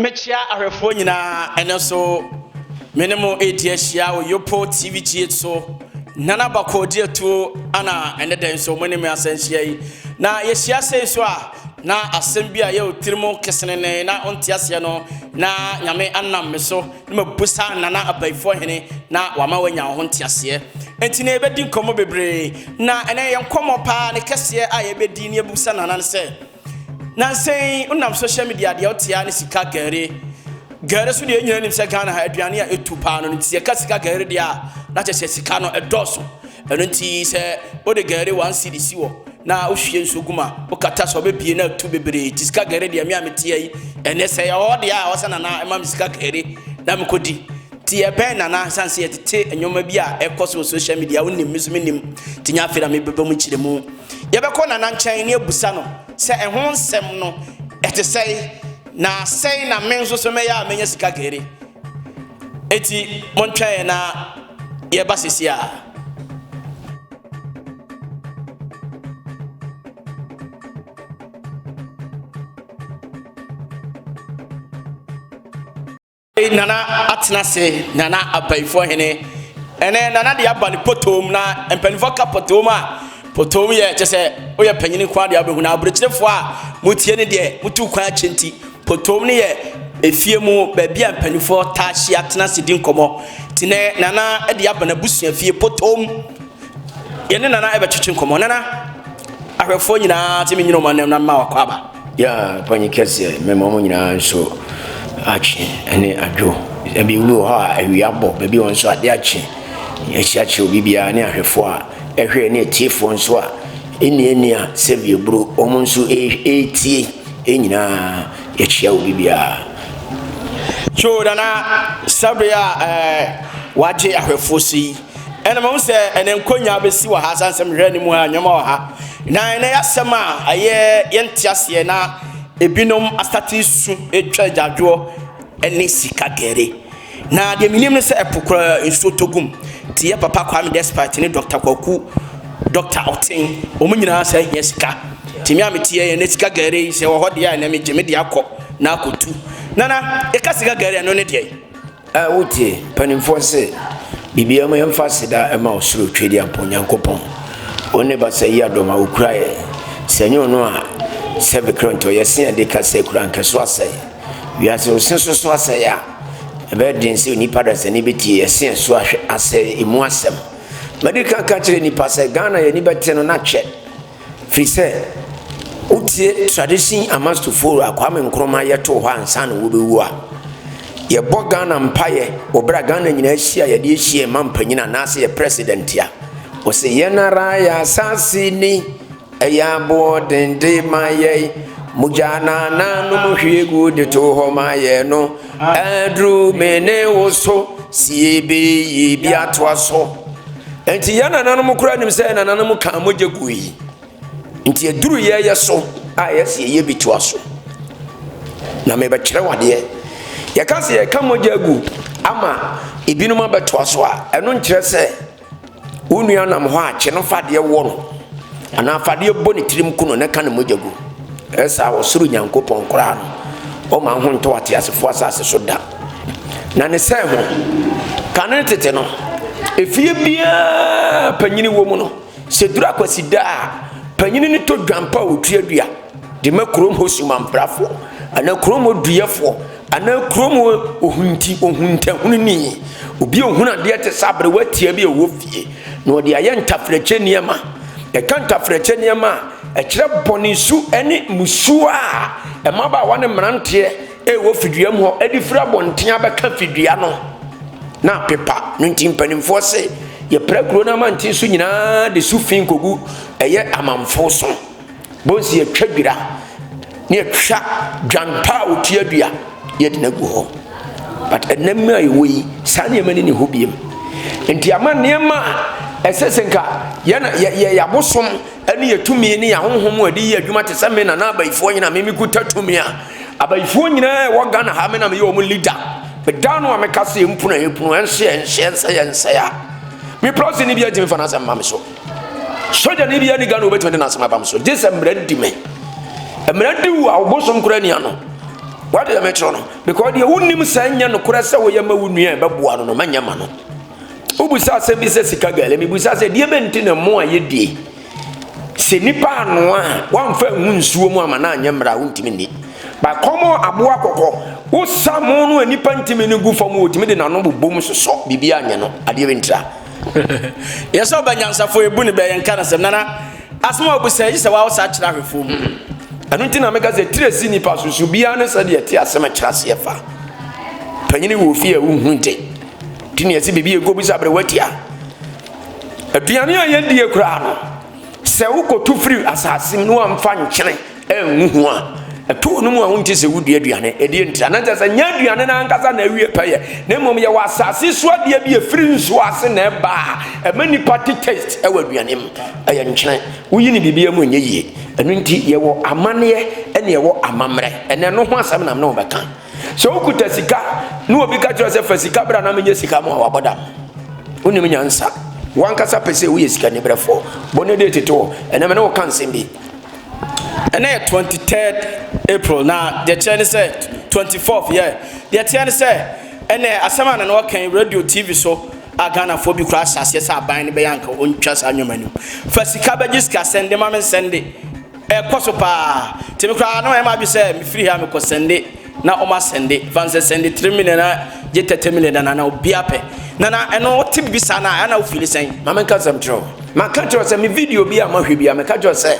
mekyia ahwɛfoɔ nyinaa ɛnɛ nso me ne mo ɛredi ahyia wɔ yopo tv gh so nana bakɔ di atuo ana ɛnɛ dɛn nso mo ne me asɛnhyia yi na yɛhyia sɛ nso a na asɛm bi a yɛwɔ tiri mu kesenene na ɔnte aseɛ no na nyame anam me so na mabisa Nana Abayifoɔ Hene na wama wanya wo ho nteaseɛ. Enti na yɛbɛdi nkɔmmɔ bebree, na ɛnɛ yɛn nkɔmmɔ paa ne kɛseɛ a yɛbɛdi ne yɛbisa Nana no sɛ, Nansɛn wonam social media deɛ wotea ne sika gɛre. Gɛre so deɛ nyina nim sɛ Ghana ha aduane a ɛtu paa no, nti yɛka sika gɛre deɛ a, na kyɛ sɛ sika no ɛdɔɔso. Ɛno nti sɛ wode gari one cedi si hɔ na wohwie nsuo gu mu a, wokata sɛ ɔbɛbie na atu bebree nti sika gari deɛ me a meteɛ yi ɛnɛ sɛ yɛ hɔ deɛ a ɔsɛ nana ɛma me sika gari na mekɔdi nti ɛbɛn nana sane sɛ yɛtete nneɛma bi a ɛkɔ so wɔ social media wonim me nso menim nti nya afei na mebɛbɛ mu kyerɛ mu yɛbɛkɔ nana nkyɛn ne abusa no sɛ ɛho nsɛm no ɛte sɛe na sɛe na me nso so mɛyɛ a mɛnya sika gari eti montwɛn na yɛba sisi a. nana atena se nana abayifoɔ hene ɛnɛ nana de aba ne potoom na mpanimfoɔ ka potoom a potoom yɛ kyɛ sɛ woyɛ panyini kwan deɛ wobɛhu na aburokyerɛfoɔ a motie ne deɛ motu kwan akyɛ nti Potoom no yɛ efie mu baabi a mpanimfoɔ taa hyia tena ase di nkɔmmɔ. Nti nɛ Nana de aba n'abusua fie Potoom. Yɛne Nana ɛbɛtwetwe nkɔmmɔ. Nana, ahwɛfoɔ nyinaa te me nyina ɔma nam na mma wakɔ aba. Yeah, panyin kɛseɛ, mɛma wɔn nyinaa nso akye ɛne adwo. Ebi wɔ hɔ a awia abɔ, baabi wɔn nso ade akye. Yɛahyia kyerɛ obi biara ne ahwɛfoɔ a ɛhwɛ ne atiefoɔ nso a ɛnni ɛnni a sɛbi aburo wɔn nso ɛretie Yɛn nyinaa yɛkyia obi biara. Kyoo nana sɛbere a ɛɛ wagye ahwɛfoɔ si yi ɛna mahu sɛ ɛnɛ nkonyaa bɛsi wɔ ha san sɛ mehwɛ ne mu a nneɛma wɔ ha na ɛnɛ yɛasɛm a ɛyɛ yɛnte aseɛ na ebinom asate su atwa adwadwoɔ ne sika gɛre. Na deɛ menim ne sɛ ɛpo koraa nsuo tɔ gum te yɛ papa Kwame Despite ne Dɔkta Kwaku Dɔkta Ɔten wɔn nyinaa saa hia sika nti me a mete yɛ na sika gɛre yi sɛ ɛwɔ hɔ deɛ a ɛnɛ megye me deɛ akɔ na akɔtu Nana yɛka sika gɛre ɛno ne deɛ a wotie mpanimfoɔ se biribiara mu yɛmfa aseda ɛma ɔsoro Twedeampɔn Nyankopɔn wo ne basa yi adɔm a wokura yɛ sɛ nyɛ ɔno a sɛ Vickrantɔ yɛse yɛde ka sɛ kura nkɛso asɛe Wiase ɔse so so asɛe a, ɛbɛyɛ den sɛ onipa dasani bɛtie ɛse a so ahwɛ asɛe emu asɛm. Madi kan ka kyerɛ nnipa sɛ Ghana yɛni bɛte no na kyɛ firi sɛ wotie tradition amastufo a Kwame Nkrumah yɛ too hɔ ansa na wɔbɛwu a, yɛbɔ Ghana mpaeɛ wɔ berɛ a Ghana nyinaa hyia yɛde ahyia ɛma mpanyin anaasɛ yɛ president a, ɔse yɛn ara yɛ asase ni. Ɛyɛ aboɔ den de ma yɛn. Mogya na nanom hwie gu de to hɔ ma yɛn no. Aduru me ne wo so si yɛbɛyi bi atoa so. Nti yɛn nananom koraa nim sɛ nananom kaa mogya gu yi. Nti aduru yɛyɛ so a yɛsi yɛyɛ bi toa so. Na mebɛkyerɛ wadeɛ. Yɛka sɛ yɛka mogya gu ama ebinom abɛtoa so a, ɛno nkyerɛ sɛ. Wo nua nam hɔ a, kye no fa adeɛ wɔ no, anaa fa adeɛ bɔ ne tirim ku no na ka ne mogya gu. Ɛyɛ saa a, ɔsoro Nyankopɔn koraa no, ɔmma ho ntɔ ateasefoɔ asase so da. Na ne sɛe ho, kane no tete no, efie biara a panyini wɔ mu no, sɛ ɛduru Akwasida a, panyini no tɔ dwampa a ɔtua dua. De ma kurom hɔ sumanprafoɔ, anaa kurom hɔ duyɛfoɔ, anaa kurom hɔ ohunti ohuntahununi, obi a ɔhunu adeɛ te sɛ aberewa tia bi a ɛwɔ fie, na ɔde ayɛ ntaferɛkyɛ nneɛma. Yɛka ntaferɛkyɛ nneɛma a, ɛkyerɛ bɔne su ne mmusuo a mmabaawa ne mmeranteɛ rewɔ fiduam hɔ de firi abɔnten abɛka fidua no, na apepa. No nti mpanimfoɔ se, yɛpra kuro no amanten so nyinaa de su fi kɔgu ɛyɛ amanfo so. Bonsii atwa dwira, ne atwa dwan pa a wɔtua dua yɛ den agu hɔ. But ɛnɛ mmerɛ a yɛwɔ yi, saa nneɛma ni ne hɔ biam. Nti ama nneɛma a ɛsɛ sɛ nka yɛn yɛ abosom ne yɛ tumi ne yɛ ahohom a ɛde yɛ adwuma te sɛ me na na abayifoɔ nyina me mekuta tumi a abayifoɔ nyinaa ɛwɔ Ghana ha me na meyɛ wɔn leader meda no a meka sɛ yɛmpunu a yɛpunu ɛnso yɛnhyɛ nsɛ yɛnsɛ a me prɛse ne bi atumi fa no asɛm ma me so Sogyani biara ni Ghana wobɛtumi de n'asɛm abam so gye sɛ mmara di me mmara di wo a wobosom kora nia no wade dɛ mekyerɛ no because deɛ wonim sɛ nyɛ nokorɛ sɛ woyɛ ma wo nua ɛbɛboa no no mɛnyɛ ma no wobisa asɛm bi sɛ sika gale mebisa sɛ deɛ bɛnti ne mmo a yɛdie sɛ nipa anoa a wamfa ngu nsuo mu ama no anyɛ mmara a wontumi nni bakɔmɔ aboa kɔkɔ wosa mo no a nipa ntumi no gu fam wɔtumi de n'ano bobom sosɔ biribi anyɛ no adeɛ bɛntira Yɛ sɛ ɔbɛ nyansafoɔ ebu ne bɛ yɛ nka nasɛm nana asɛm a ɔbu sɛ yi sɛ wawo saa kyerɛ ahwɛfoɔ mu. Ɛno nti na meka sɛ tiri si nipa so so biara ne sɛdeɛ ɛte asɛm ɛkyerɛ aseɛ fa. Panyini wɔ fie a wohu nte. Ti ne ɛsi biribi ɛgu bisa bere watia. Aduane a yɛdie koraa no sɛ wokɔtu firi asase mu na wamfa nkyene ngu ho a, ɛtɔ wo no mu a wonte sɛ wodi aduane. Ɛdeɛ nti a na kyerɛ sɛ nyɛ aduane no ankasa na awie pɛyɛ, na mmom yɛwɔ asase so adeɛ bi ɛfiri nsuo ase na ɛba a ɛma nnipa te taste ɛwɔ aduane mu. Ɛyɛ nkyene. Woyi no biribiara mu ɛnyɛ yie. Ɛno nti yɛwɔ amanneɛ ɛne ɛwɔ amammerɛ. Ɛnɛ ɛno ho asɛm na me ne wo bɛka. Sɛ wokuta sika na obi ka kyerɛ sɛ fa sika bra na menyɛ sika mu a wabɔ dam. Wonim nyansa. Wankasa pɛ sɛ woyɛ sikaniberɛfoɔ. Bɔ ne date to hɔ. Ɛnɛ me ne wo ka nsɛm bi. Ɛnnɛ yɛ twenty third April na deɛ ɛkyerɛ ne sɛ twenty fourth yɛ deɛ ɛteɛ ne sɛ ɛnɛ asɛm a nana ɔka yi radio TV so a Ghanafoɔ bi koraa ahyɛ aseɛ sɛ aban no bɛyɛ anka ɔntwa saa nneɛma no mu fa sika bɛgye sika sɛnde ma me nsɛnde ɛkɔ so paa nti me koraa na ɛma adwe sɛ mefiri ha mekɔ sɛnde na ɔma sɛnde fa nsɛ sɛnde three million na gye thirty million na nana obia pɛ nana ɛno ɔte bi saa na ɛna ofili sɛn. maame nka sɛm kyerɛ o maka kyerɛ sɛ me video bi a mahwɛ bi a meka kyerɛ sɛ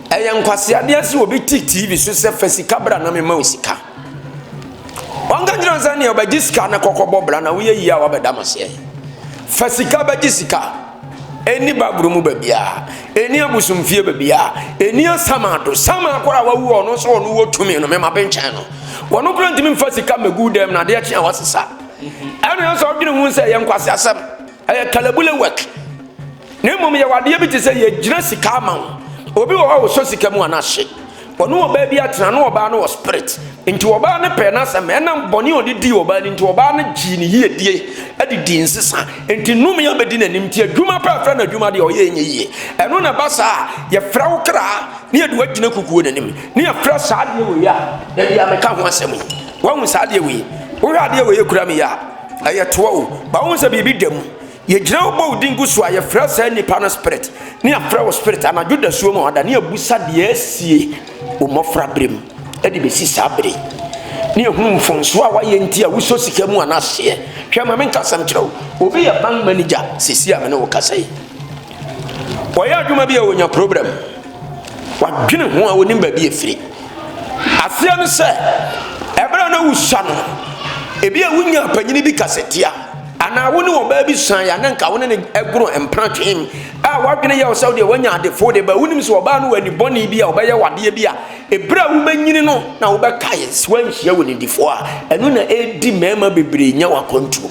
ɛyɛ nkwaseadeɛ sɛ obi te tv so sɛ fa sika bra na mema wo sika ɔnka kyerɛ sɛ neɛ ɔbɛgye sika na kɔkɔbɔ bra na woyɛ yie a wabɛda maseɛ fa sika bɛgye sika Enni Baburo mu baabiara, enni abosomfie baabiara, enni asamando. Saman koro a wawu a ɔno nso ɔno wɔ tumi no, mema benkyɛn no. Wɔno koro ntumi mfa sika mmegu dan mu na adeɛ kye a wasesa. Ɛna nso ɔdwene ho sɛ ɛyɛ nkwaseasɛm, ɛyɛ kalabule work. Na mmom yɛwɔ adeɛ bi te sɛ yɛgyina sika ama wo. Obi wɔ hɔ a ɔsɔ sika mu a na ahye. Ɔne ɔbaa bi atena, na ɔbaa no wɔ spirit. Nti ɔbaa no pɛɛ n'asɛm. Ɛna bɔne a ɔde dii ɔbaa no nti, ɔbaa no gyee ne yiedie de dii nsesa. Nti nnome abɛdi n'anim. Nti adwuma pɛ a ɛfrɛ no adwuma deɛ, ɔyɛ ɛnyɛ yie. Ɛno na ɛba saa a, yɛfrɛ wo kra na yɛde wo agyina kukuo no anim, na yɛfrɛ saa adeɛ wei a da biara meka ho asɛm yi. Woahu saa adeɛ wei? Wohwɛ adeɛ wei a ɛkura me yi a, ɛyɛ toa o, but wohu sɛ biribi da mu. Yɛgyina hɔ bɔ wo din gu so a, yɛfrɛ saa nipa no spirit, ne afrɛ wo spirit anadwo dasuo mu ɔda, ne abusa deɛ asie wo mmɔfra berɛ mu de bɛsi saa bere ne ɛhunu mfonsoɔ a wayɛ nti a wosɔ sika mu anaseɛ. Hwɛ ma menka asɛm kyerɛ wo, obi yɛ bank manager sɛsi a mene wo kasa yi. Ɔyɛ adwuma bi a ɔnya problem, wadwene ho a ɔnim baabi ɛfiri. Aseɛ no sɛ, ɛberɛ a na wosua no, ebi a wonya panyini bi kasatia, Anaa wo ne ɔbaa bi suae a na anka wo ne no agoro mpena twen a w'adwene yɛ wo sɛ wodeɛ woanya ade fo de ba wonim sɛ ɔbaa no wɔ ani bɔne bi a ɔbɛyɛ wo adeɛ bi a ɛberɛ a wobɛnyini no na wobɛkae sɛ woanhyia wo nidifoɔ a ɛno na ɛdi mmarima bebree nya wakwantuo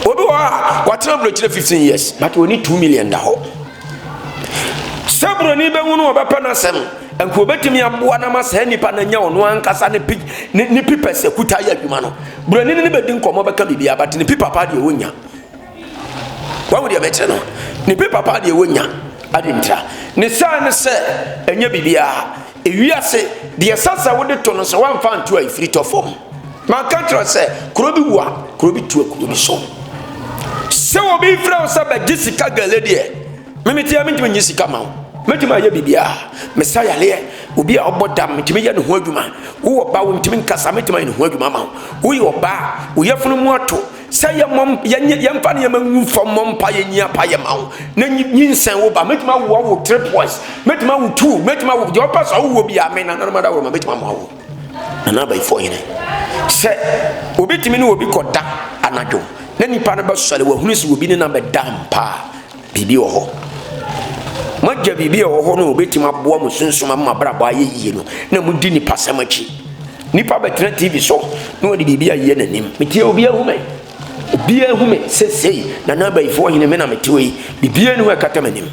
obi wɔ hɔ a watena aburokyerɛ 15 years but ɔni 2 million da hɔ Sɛ buroni bɛhu no, ɔbɛpɛ n'asɛm. Anka obetumi aboa no ama saa nipa no anya ɔno ankasa ne pi ne ne pipa sɛ kuta yɛ adwuma no. Buroni no ne bɛdi nkɔmmɔ bɛka biribiara, but ne pipa paa deɛ ɔnnya. Wahu deɛ mɛkyerɛ no? Ne pipa paa deɛ ɔnnya. Adentira ne saa ne sɛ ɛnyɛ biribiara. Ewiase, deɛ ɛsɛ sɛ wode to no sɛ woamfa anto a ɛfiri tɔ fam. Manka kyerɛ sɛ kuro bi wu a, kuro bi tua kuro bi so. Sɛ obi frɛ wo sɛ bɛgye sika gale deɛ, memeteɛ mentumi nye sika ma wo. Mɛtumi ayɛ biribiara. Mesa yareɛ, obi a ɔbɔ dam, metumi yɛ ne ho adwuma. Wowɔ ba, wontumi nkasa, mɛtumi ayɛ ne ho adwuma ama wo. Woyɛ ɔbaa, wo yafunu mu ato, Sɛ yɛmmɔ mp yɛnyɛ yɛmfa nneɛma ngu fam mmɔ mpaeɛ nyi apaeɛ ma wo na nyi- nyinsɛn wo ba mɛtumi awoa wo three boys mɛtumi awo two mɛtumi awo deɛ ɔpɛ so awowɔ bi a me nananom adaworoma mɛtumi ama wo nana abayifoɔ hene sɛ obi tumi ne obi kɔda anadwo na nipa no bɛsɔre wahunu sɛ obi ne na bɛda mpa a Biribi wɔ hɔ. Moagya biribi a ɛwɔ hɔ no a obetumi aboa mo sunsum ama mo abrabɔ ayɛ yiye no, na mudi nipasɛm akyi. Nipa bɛtena TV so na ɔde biribi ayeyɛ n'anim. Metie obi ahu me. Obi ahu me sesei. Nana Abayifoɔ hene me na mete hɔ yi. Biribiara nni hɔ a ɛkata m'anim.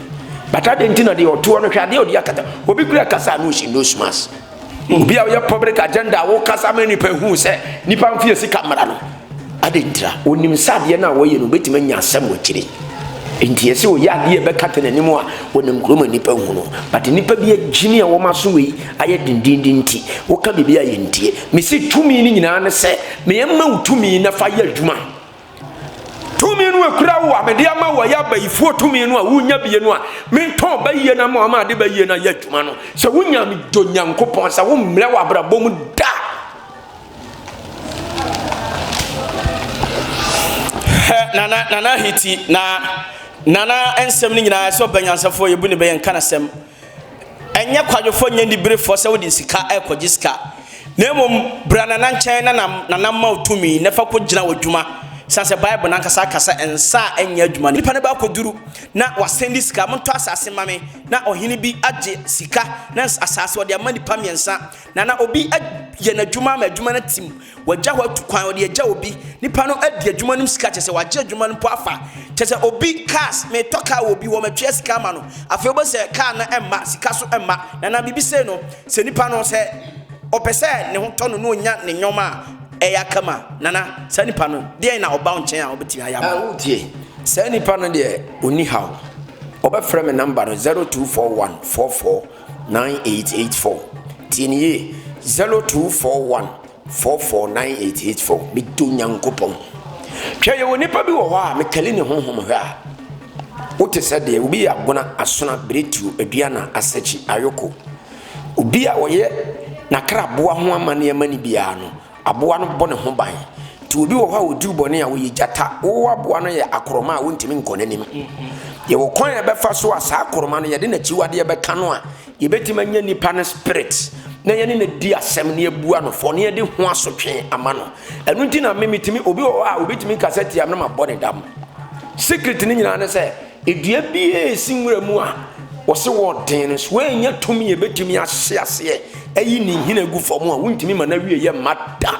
But adɛn nti na deɛ ɔte hɔ no, hwɛ adeɛ a ɔde akata. Obi kura kasa a na ɔhyɛ nose mask. Obi a ɔyɛ public agenda a wokasa ma nnipa hu sɛ nnipa mfe yɛ sika mmara no. Adɛn ntira? Onim sɛ adeɛ no a wɔyɛ no obɛtumi anya asɛm wɔ akyire. Nti ɛsɛ ɔyɛ adeɛ ɛbɛkata n'anim a wɔnam kuro ma nnipa hu no. But nnipa bi agyini a wɔn aso wei ayɛ dendenden nti woka biribi a yɛntie. Mese tumi no nyinaa ne sɛ meyɛ mma wo tumi na fa yɛ adwuma. Tumi no ekura wo a mede ama wo ɛyɛ abayifoɔ tumi no a wonya bie no a mentɔn ba yie no ama ɔma ade ba yie no ayɛ adwuma no sɛ wonya dɔ nyankopɔn sɛ wommrɛ wɔ abrabɔ mu da nana nana hiti na nana nsɛm no nyinaa sɛ ɔbɛnyansafoɔ yɛbu ne bɛyɛ nka nasɛm Ɛnyɛ kwadwofoɔ nyɛ aniberefoɔ sɛ wode sika rekɔgye sika, na mmom bra Nana nkyɛn na Nana mma wo tumi na fa kɔgyina w'adwuma, sane sɛ Bible no ankasa ka sɛ nsa a ɛnyɛ adwuma no. Nipa no bɛakɔduru na wasɛndi sika, montɔ asase mma me, na ɔhene bi agye sika na asase ɔde ama nipa mmiɛnsa, na na obi ayɛ n'adwuma ama adwuma no atim, Wɔagya hɔ atu kwan, wɔde agya obi. Nipa no adi adwuma no mu sika, kyerɛ sɛ wagye adwuma no mpo afa. Kyerɛ sɛ obi, cars, metɔ car wɔ obi hɔ, matua sika ama no. Afei wobɛhu sɛ car no mma, sika so mma. Na anaa biribi sei no, sɛ nipa no, sɛ ɔpɛ sɛ ne ho tɔ no na ɔnya ne nneɛma a ɛyɛ akam a, Nana, saa nipa no, deɛn na ɔba wo nkyɛn a ɔbɛtumi ayɛ ama wo? Wotie? Saa nipa no deɛ, ɔnni haw. Ɔbɛfrɛ me number no, 0241 44. 9884 Tie no yie 0241 44 9884 Medɔ Nyankopɔn Hwɛ, yɛwɔ nnipa bi wɔ hɔ a mekali ne honhom hwɛ a, wote sɛ deɛ obi yɛ abona, asona, biretuo, aduana, asakyi, ayoko. Obi a ɔyɛ n'akraboa ho amanneɛ ma no biara no, Aboa no bɔ ne ho ban. Nti obi wɔ hɔ a ɔduru bɔne a ɔyɛ gyata. Wo aboa no yɛ akoroma a wontumi nkɔ n'anim. Yɛwɔ kwan a ɛbɛfa so a saa akoroma no yɛde n'akyiwadeɛ bɛka no a yɛbɛtumi anya nipa no spirit na yɛne no di asɛm na yɛbua no fɔ na yɛde ho asotwe ama no. Ɛno nti na me metumi obi wɔ hɔ a obɛtumi kasa tia me na mabɔ ne dam. Secret no nyinaa ne sɛ Dua biara a ɛsi nwura mu a wɔse wɔ den no, so ɛnnya tumi a ɛbɛtumi ahye aseɛ ayi ne nhini agu fam a wontumi ma no awie yɛ mma da?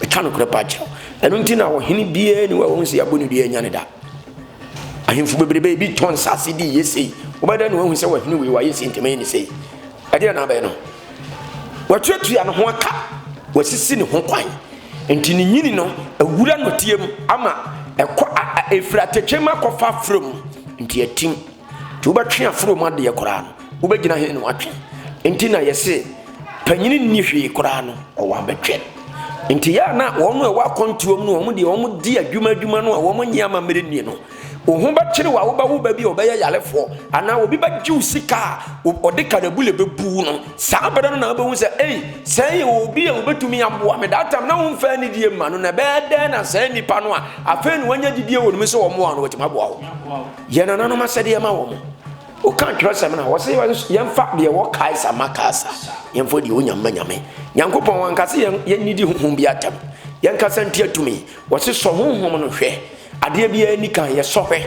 Meka nokorɛ paa kyerɛ wo. Ɛno nti na ɔhene biara ni hɔ a wɔn sɛ yɛabɔ ne dua anya ne da. Ahemfo bebrebe ebi tɔ nsase di yɛ sei. Wobɛda na wahu sɛ wɔhene wei wayɛ sei nti mɛyɛ ne sei. Ɛdeɛ na abɛn no. Watuatua ne ho aka, wasisi ne ho kwan. Enti ne nyini no awura nnɔteɛ mu ama ɛkɔ a, a ɛfiri atɛkyɛ mu akɔfa aforɔ mu. Enti atim. Nti wobɛtwe aforɔ mu adeɛ koraa no, wobɛgyina he na watwe? Enti na yɛse panyini nni hwee koraa no, ɔwɔ abɛtwɛ. Enti yɛ a na wɔn a ɛwɔ akwantuom no, wɔn deɛ wɔn di adwuma adwuma no a wɔn nyɛ amammerɛ nie no, Wo ho bɛkyere wo a, wobɛwo wo ba bi a ɔbɛyɛ yarefoɔ, anaa obi bɛgye wo sika a, ɔde kanabule bɛbu wo no. Saa berɛ no na wobɛhu sɛ, ei, sɛn yɛ obi a ɔbɛtumi aboa me. That time, na womfa anidie mma no, na ɛbɛyɛ dɛn na saa nnipa no a afei na wɔanya gyidie wɔ ne mu sɛ wɔmmoa no, wɔatumi aboa wo? Yɛ nananom asɛdeɛ ma wɔn. Woka twerɛsɛm no a, wɔse yɛmfa deɛ ɛwɔ Kaesar ma Kaesar, yɛmfa deɛ ɔwɔ Nyame ma Nyame. Nyankopɔn, wanka sɛ yɛnnidi honhom bi atɛm, yɛnkasa ntia tumi. Wɔse sɔ honhom no hwɛ, adeɛ biara nni kan, yɛ sɔ hwɛ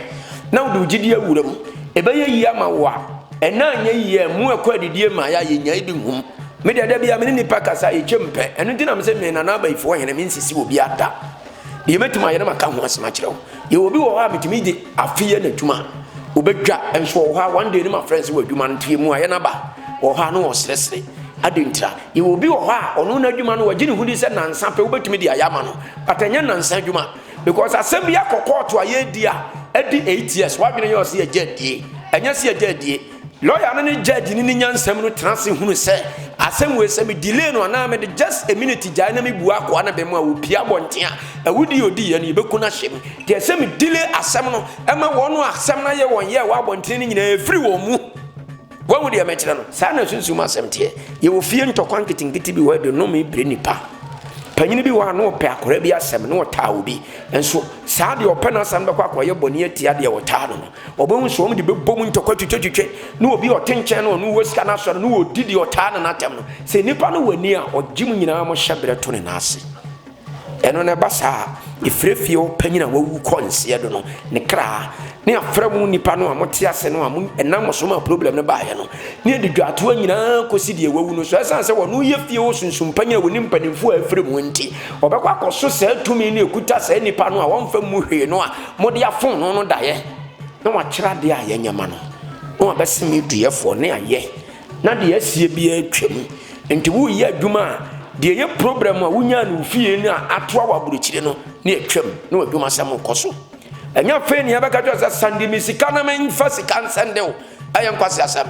na wode wo gyedie awura mu, ɛbɛyɛ yie ama wo a, ɛnnɛ anyɛ yie a ɛmmu ɛkɔ adidie mmaeɛ a yɛnyae bi nhum, me deɛ da biara me ne nnipa kasa a yɛtwam pɛ, ɛno nti na mese me Nana Abayifoɔ Hene me nsisi obiara da, deɛ mɛtumi ayɛ na maka ho asɛm akyerɛ wo, yɛwɔ obi wɔ hɔ a metumi gye afe yɛ n'adwuma ɔbɛdwa, nso wɔ hɔ a one day ne mafrɛ no sɛ w'adwuma no nto yɛ mu a yɛ no aba, wɔ hɔ a na ɔresresre, adɛn ntira? Yɛwɔ obi wɔ hɔ a ɔno n'adwuma no wagye ne ho di sɛ nansa pɛ wobɛtumi de ayɛ ama no but ɛnyɛ nansa adwuma because asɛm bi akɔ kɔɔto a yɛredi a ɛdi eight years wadwene yɛ ɔsɛ yɛgya adie ɛnyɛ sɛ yɛgya adie lɔya no ne judge no ne nyansam no tena ase hunu sɛ asɛm wei sɛ me delay no anaa mede just a minute gyae na mebu akoa no bɛm a wɔpia abɔnten a awudi a ɔdi yɛ no yɛbɛku no ahyɛ mu deɛ sɛ me delay asɛm no ɛma wɔn asɛm no ayɛ wɔn yɛ wɔ abɔnten no nyinaa ɛfiri wɔn mu Woahu deɛ mekyerɛ no? Saa na sunsum asɛm teɛ. Yɛwɔ fie ntɔkwa nketenkete bi wɔ ha, ɛde nnome pire nnipa. Panyin bi wɔ ha na ɔpɛ akwadaa bi asɛm na ɔtaa obi. Nso saa deɛ ɔpɛ n'asɛm bɛkɔ akɔyɛ bɔne atia deɛ ɔtaa no no. Ɔbɛhu sɛ wɔn de bɛbɔ mu ntɔkwa twitwetwitwe na obi a ɔte nkyɛn no ɔno wɔ sika no asɔre na ɔdi deɛ ɔtaa no no atɛm no. Sɛ nnipa no wɔ ani a, ɔgye mu nyinaa mo hyɛ berɛ to ne nan ase. Ɛno na ɛba saa a, efirɛ fie hɔ panyin a wawu kɔ nseɛ do no, ne kra, ne afra mu nnipa no a mote ase no a mo, ɛnam mo so maa problem no baeɛ no, ne adidwatoɔ nyinaa kɔsi deɛ wawu no. So ɛsiane sɛ ɔno yɛ fie hɔ sunsum panyin a ɔnim mpanimfoɔ a afiri mu nti, ɔbɛkɔ akɔso saa tumi no a ɛkuta saa nnipa no a wɔmfa mmu hwee no a mode afom no no daeɛ? Na wakyerɛ adeɛ a yɛnyɛ ma no, na wabɛseme duɛfoɔ, ne ayɛ. na deɛ asie biara atwa mu. Nti woreyɛ adwuma a, deɛ ɛyɛ problem a wonyaa no wo fie no a atoa wɔ aburokyire no ne atwa mu ne w'adwuma sɛm rekɔ so. Ɛnyɛ afei ne yɛbɛka kyerɛ sɛ sande me sika na memfa sika nsɛnde wo. Ɛyɛ nkwasi asɛm.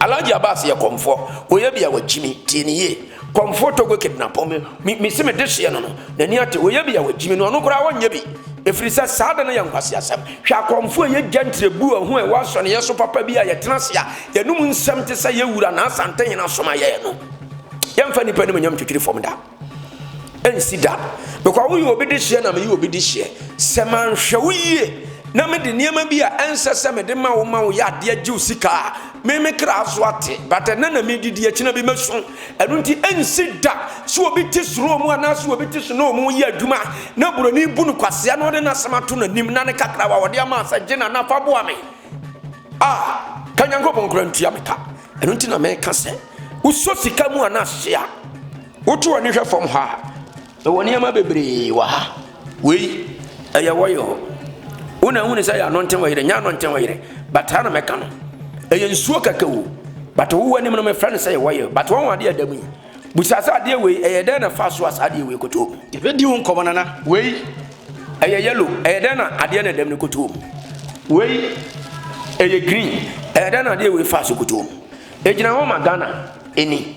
Alhaji Abbas yɛ kɔmfoɔ, ɔyɛ bi a wakyimi, tie ne yie. Kɔmfoɔ Togo kidnapper me. Me, mese me dehyeɛ no no, n'ani ate, ɔyɛ bi a wagyi me no, ɔno koraa ɔnyɛ bi, ɛfiri sɛ saa de no yɛ nkwaseasɛm. Hwɛ akɔmfo a yɛgya ntirebuo a ho a ɛwɔ asɔneeɛ so papa bi a yɛtena ase a yɛnom nsɛm te sɛ yɛn Wura Naa Asantehene soma yɛn no. Yɛmfa nnipa animuonyam ntwitwiri fam da. Ɛnsi da. Because woyɛ obi dehyeɛ na meyɛ obi dehyeɛ. Sɛ manhwɛ wo yie na mede nneɛma bi a ɛnsɛ sɛ mede ma wo ma wo yɛ adeɛ gye wo sika a, Me me kra so ate, but ɛnnɛ na medidi, akyi na bi mɛsu. Ɛno nti, ɛnsi da sɛ obi te suro mu anaasɛ obi te snow mu yɛ adwuma a, na buroni bu no kwasea na ɔde n'asɛm ato n'anim na ne kakrawa a ɔde ama a sɛ gye na na fa boa me a, ka Nyankopɔn koraa ntua me ka. Ɛno nti na meka sɛ, wosɔ sika mu anaasɛ a, woto w'ani hwɛ fam hɔ a, Yɛwɔ nneɛma bebree wɔ ha. Wei, ɛyɛ wɔ yɔ. Wo na ehunu sɛ yɛ ano nten wɔ yere, nyɛ ano nten wɔ yere. But saa na mɛka no. Ɛyɛ nsuo kɛkɛ o. But wo wɔ anim no mefrɛ no sɛ yɛ wɔ yɔ. But wɔn adeɛ ɛda mu yi. Busa sɛ adeɛ wei ɛyɛ dɛn na fa so a saa adeɛ wei kɔtoo mu. Yɛbɛdi ho nkɔmɔ nana. Wei, ɛyɛ yellow, ɛyɛ dɛn na adeɛ na ɛda mu no kɔtoo mu. Wei, ɛyɛ green, ɛyɛ dɛn na adeɛ wei fa so kɔtoo mu. Egyina hɔ ma Ghana ani.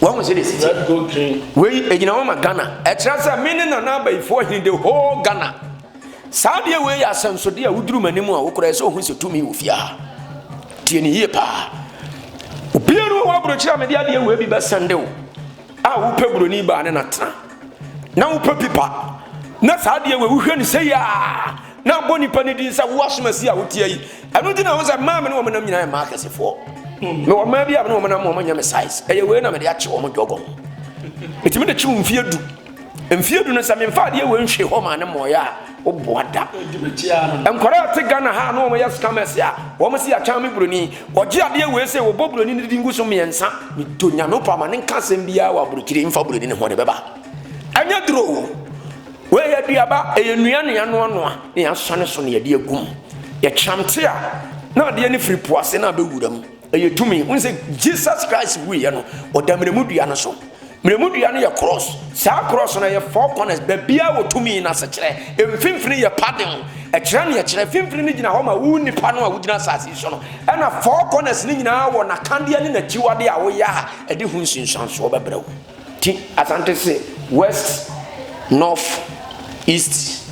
Wahu sɛ de siti. Wei egyina hɔ ma Ghana. Ɛkyerɛ sɛ me ne Nana Abayifoɔ he the whole Ghana. Saa deɛ wei yɛ asɛnsodeɛ a woduru m'anim a wokora ɛsɛ ohu sɛ tumi wɔ fie ha. Tie ne yie paa. Obiara wɔ hɔ aburokyerɛ a mede adeɛ wei bi bɛsɛnde wo a wopɛ buroni baa ne natena na wopɛ pipa na saa adeɛ wei wohwɛ ne sɛ yaa Na ɔbɔ nnipa no din sɛ, 'Wo asomasi a wotia yi! Ɛno nti na ɛho sɛ mmaa a me ne wɔn nam nyinaa yɛ mmaa akɛsefoɔ. Mewɔ mmaa bi a me ne wɔn nam ma wɔnyɛ me size. Ɛyɛ wei na mede akye wɔn dwɔgɔm. Metumi de kye wo mfeɛ du. Mfeɛ du no, sɛ memfa adeɛ wei nhwee hɔ maa ne mmɔeɛ a, woboa da. Nkwadaa a ɛte Ghana ha a na wɔyɛ scammers a, wɔn se yɛatwɛn me buroni. Wɔgye adeɛ wei sɛ wɔbɔ buroni no din gu so mmiɛnsa. Medɔ Nyame paa, ma ne nka asɛm biara wɔ aburokyire mfa buroni no ho, ɔde bɛba. Ɛnyɛ duro o. Wei yɛ aduaba, ɛyɛ nnua na yɛanoanoa na yɛasɔ ne so na yɛde agu mu. Yɛkyam te a, na adeɛ no firi po ase na abɛwura mu. Ɛyɛ tumi. Wohu sɛ Jesus Christ wuiɛ no, ɔda mmerɛmu dua no so. Mmerɛmu dua no yɛ krɔɔs. Saa krɔɔs no, ɛyɛ four corners, baabiara wɔ tumi no asekyerɛ. Mfimfini yɛ padding. Ɛkyerɛ nea ɛkyerɛ. Mfimfini no gyina hɔ ma wo nipa no a wogyina asase yi so no. Ɛna four corners no nyinaa wɔ n'akadeɛ ne n'akyiwadeɛ a woyɛ a, ɛde ho nsunsuansoɔ bɛbrɛ wo. Ti Asante se West, North, East,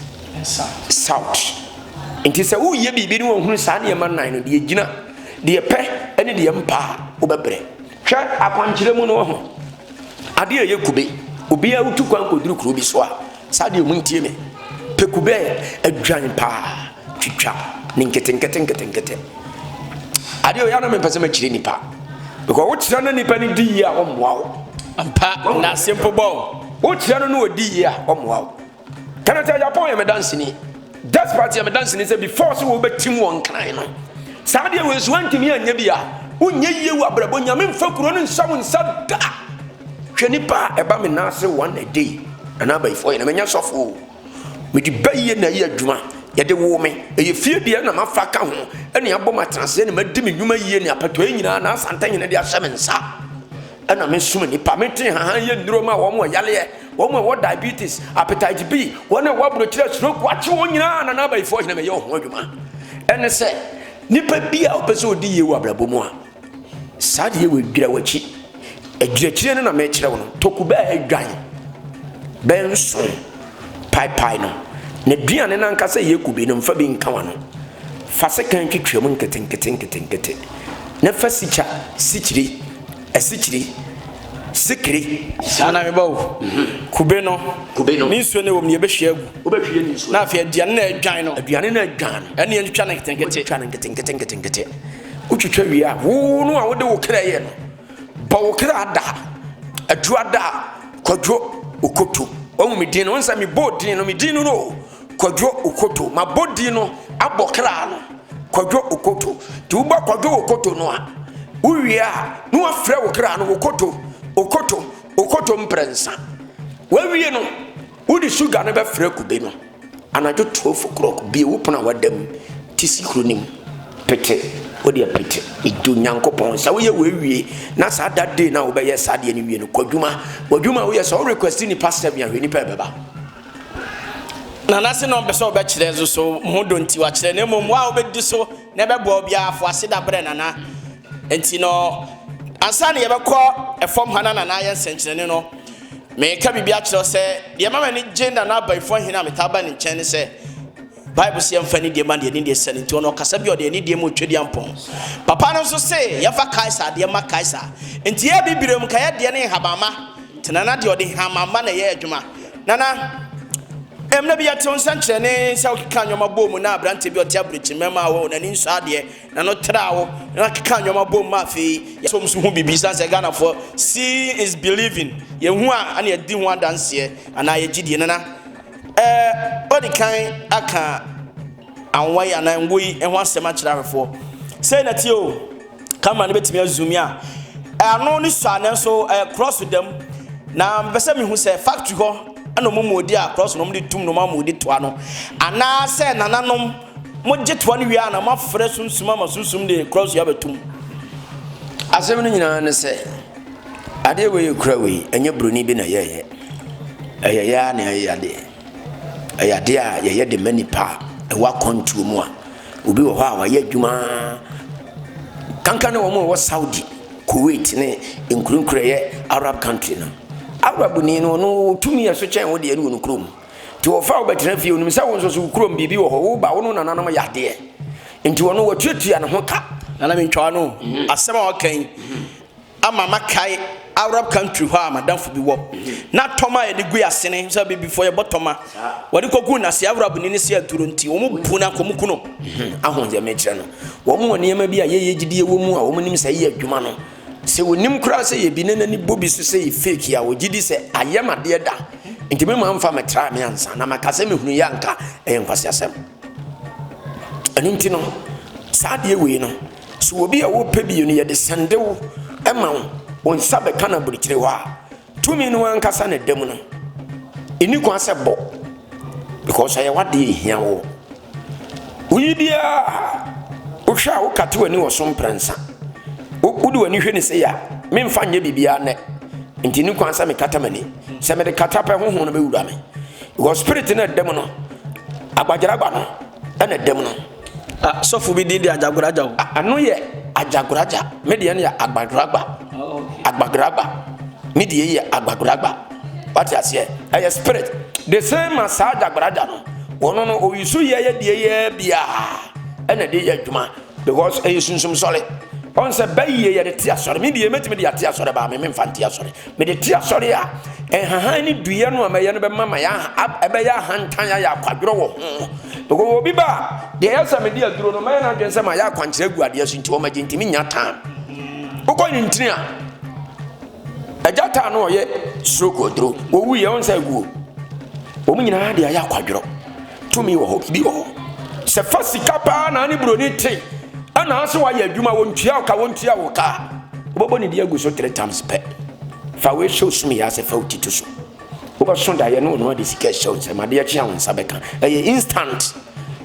South. Nti sɛ woreyɛ biribi ne wahunu saa nneɛma nnan no, deɛ gyina, deɛ ɛpɛ ne deɛ mpa a, wobɛbrɛ. Hwɛ akwankyerɛ mu no wahu adeɛ a ɛyɛ kube. Obiara wotu kwan kɔduru kuro bi so a, Saa deɛ ɔmo ntie me. Pekubɛ adwan paa twitwa ne nketenkete nketenkete. Adeɛ ɔyɛ na me mpɛ sɛ mɛkyerɛ nipa. Because wokyerɛ no nipa no di yie a ɔmmoa wo. Ampa na simple bɔ. Wokyerɛ no na ɔdi yie a ɔmmoa wo. Kenneth Agyapong yɛ me danseni. Despite yɛ me danseni sɛ before sɛ wɔbɛtim wɔn kran no saa deɛ wei nso wantumi anyɛ bi a wonyɛ yie wɔ abrabɔ nyame mfa kuro no nsa wo nsa da hwɛ nipa a ɛba me nan ase one a day anaa abayifoɔ yɛ na menya sɔfoɔ o mede bɛyie na ɛyɛ adwuma yɛde wo me ɛyɛ fie deɛ na mafa ka ho ɛne abɔ matenaseɛ ne madi me nnwuma yie ne apatoa nyinaa na asanta nyina de ahyɛ me nsa ɛna mesoma nipa mete haha yɛ nnuro ma wɔn wɔ yaleɛ wɔn a ɛwɔ diabetes appetite b wɔn a ɛwɔ aburokyerɛ stroke wakye wɔn nyinaa na n'abayifoɔ hena mɛyɛ ɔho adwuma ɛne sɛ nipa bi a ɔpɛ sɛ ɔdi yie wɔ abrabɔ mu a saa deɛ wɔ adwira wakyi adwirakyire no na mɛkyerɛ wo no toku bɛɛ adwan bɛɛ nso paepae no na duane no ankasa yɛ kube no mfa bi nka wa no fa sekan twitwam nketenkete nketenkete na fa sikya sikyire Asikyire, sikire. Saa na meba o. Kube no, kube no. Ne nsuo no ɛwɔ mu no yɛbɛhwie agu. Wobɛhwie ne nsuo. Na afei aduane no a ɛdwan no. Aduane no a ɛdwan no. Ɛne yɛntwitwa no nketenkete. Wotwitwa no nketenkete nketenkete. Wotwitwa wie a wo no a wode wo kra yɛ no bɔ wo kra da aduru ada kwadwo okoto. Wahu me din no, nsɛ mebɔ din no, me din no no. Kwadwo Okoto. Mabɔ din no abɔ kra no. Kwadwo Okoto. Nti wobɔ Kwadwo Okoto no a, wowie a na wafrɛ wo kra no Okoto, Okoto, Okoto mprɛnsa. Wawie no, wode suga no bɛfrɛ kube no. Anadwo 12 o'clock, bie wo pono a wada mu, te sikuro no mu, pete, wode apete, edu Nyankopɔn. Sɛ woyɛ w'awie, na saa da day na wobɛyɛ saa deɛ no wie no, kɔ adwuma. W'adwuma a woyɛ sɛ wo request nipa sɛm a, hwɛ nipa ɛbɛba. Na n'ase na ɔmpɛ sɛ ɔbɛkyerɛ nso so ho dɔ nti wakyerɛ, na mmom wo a wobɛdi so na ɛbɛboa wo biara fo ase da brɛ Nana. Nti no, ansa na yɛbɛkɔ ɛfam ha na Nana ayɛ nsɛnkyerɛnne no, mereka biribi akyerɛ wo sɛ deɛ ɛma m'ani gye Nana Abaifo Ahene a metaa ba ne nkyɛn ne sɛ, Bible se yɛmfa anidie ma deɛ anidie sɛ no nti ɔno ɔkasa bi a ɔde anidie mu Tweduampɔn papa no nso se yɛmfa Kaesar adeɛ ma Kaesar nti yɛ bibire mu kaeɛ deɛ ne nhabamma nti nana deɛ ɔde nhamamma na ɛyɛ adwuma nana ɛmna bi yɛtew nsɛnkyerɛne sɛ wokeka nneɛma bɔ mu na aberanteɛ bi ɔte aburokyi mmarima wɔ n'ani nsɔ adeɛ na no tra wo na keka nneɛma bɔ mu ma afei yɛsom so ho biribi san sɛ Ghanafoɔ seeing is believing yɛhu a ana yɛdi ho adanseɛ anaa yɛgye die nana Ɛɛ, ɔde kan aka anwa yi anaa ngo yi ho asɛm akyerɛ ahwɛfoɔ. Sɛ na tie o, camera no bɛtumi azumi a. Ano ne sɔ a nanso ɛɛ cross da mu. Na mpɛ sɛ mehu sɛ factory hɔ ɛna wɔn mu ɔde a cross na wɔn de tum na wɔn ama ɔde toa no. Anaa sɛ nananom mo gye toa no wie a na mo afrɛ sunsum ama sunsum de cross abɛtum. Asɛm no nyinaa ne sɛ. Adeɛ wei kura wei, ɛnyɛ buroni bi na yɛyɛ. Ɛyɛ yɛ ara na ɛyɛ adeɛ. Ɛyɛ adeɛ a yɛyɛ de ma nipa a ɛwɔ akwantuo mu a obi wɔ hɔ a wayɛ adwuma kankan ne wɔn a wɔwɔ Saudi, Kuwait ne nkurenkura yɛ Arab country no. Arabni no no tumi yɛ so kyɛn wo deɛ no wɔ no kurom. Nti wɔfa wo bɛtena fie onim sɛ wo nso so wo kurom biribi wɔ hɔ woba wo no nananom yɛ adeɛ. Nti wɔn no wɔtuatua ne ho ka. Nana mentwaa no asɛm a ɔka yi. ama makae Arab country hɔ a madamfo bi wɔ na tɔma a yɛde gu asene sɛ abibifoɔ yɛbɔ tɔma wɔde kɔgu nase Arab ni ne se aduro nti wɔn bu na kɔm kuno mhm. aho deɛ mekyerɛ no wɔn wɔ nneɛma bi a yɛyɛ gyidie wɔ mu a wɔn nim sɛ yɛ adwuma no sɛ wɔnim koraa sɛ yɛbi ne n'ani bɔ bi so sɛ yɛ fake a wɔgye di sɛ ayɛ madeɛ da nti me maa mfa metra me ansa na maka sɛ mehunu yɛ anka ɛyɛ nkwasi asɛm ɛno nti no saa adeɛ wei no So obi a ɔrepɛ bio no, yɛde sɛndew ma wo, wo nsa bɛka no aburukyire hɔ a, tumi no ankasa na ɛda mu no. Ɛni kwan sɛ bɔ, because ɛyɛ w'adeɛ ɛhia wo. Woyi biara, wohwɛ a wokate w'ani wɔ so mprɛnsa. Wode w'ani hwɛ ne sɛ yɛ a, memfa nyɛ biribiara nnɛ. Nti ɛni kwan sɛ mekata m'ani. Sɛ mede kata pɛ honhom no bɛwura me. Because spirit no ɛda mu no, agbagyeragba no ɛna ɛda mu no. Ah sɔfo bi din de Agyagoragya o. Ah, ano yɛ Agyagoragya. Me deɛ no yɛ Agbadoragba. Agbadoragba. Me deɛ yɛ Agbadoragba. Wate aseɛ? Ɛyɛ spirit. The same ma saa Agyagoragya no. Wɔn no oyi so yɛ yɛ deɛ yɛ biara ɛna de yɛ adwuma because ɛyɛ sunsum sɔre. Wɔn sɛ bɛyie yɛde te asɔre. Me deɛ mɛtumi de ate asɔre baa me memfa nte asɔre. Mede te asɔre a nhahan ne duiɛ no a mɛyɛ no bɛma ma ɛbɛyɛ ahantan ayɛ akwadworɔ wɔ ho. Because obi ba a, deɛ ɛyɛ sɛ mede aduro no mɛyɛ n'adwene sɛ mayɛ akwankyerɛ agu adeɛ so nti ɔmagye ntumi nya tan. Wokɔ ne ntini a, agya taa no ɔyɛ stroke aduro, wɔwuiɛ ɔnsɛ aguo. Wɔn nyinaa de ayɛ akwadworɔ. Tumi wɔ hɔ, biribi wɔ hɔ. Sɛ fa sika paa na ne buroni te, ɛna ase wayɛ adwuma, wɔntua wo ka, wɔntua wo ka. Wobɛbɔ ne di agu so three times pɛ. Fa wei hyɛ osum yɛ ase fa wo titi so. Wobɛso daeɛ ne ɔno ade sika hyɛ wo nsam, adeɛ kye a wo nsa bɛka. Ɛyɛ instant.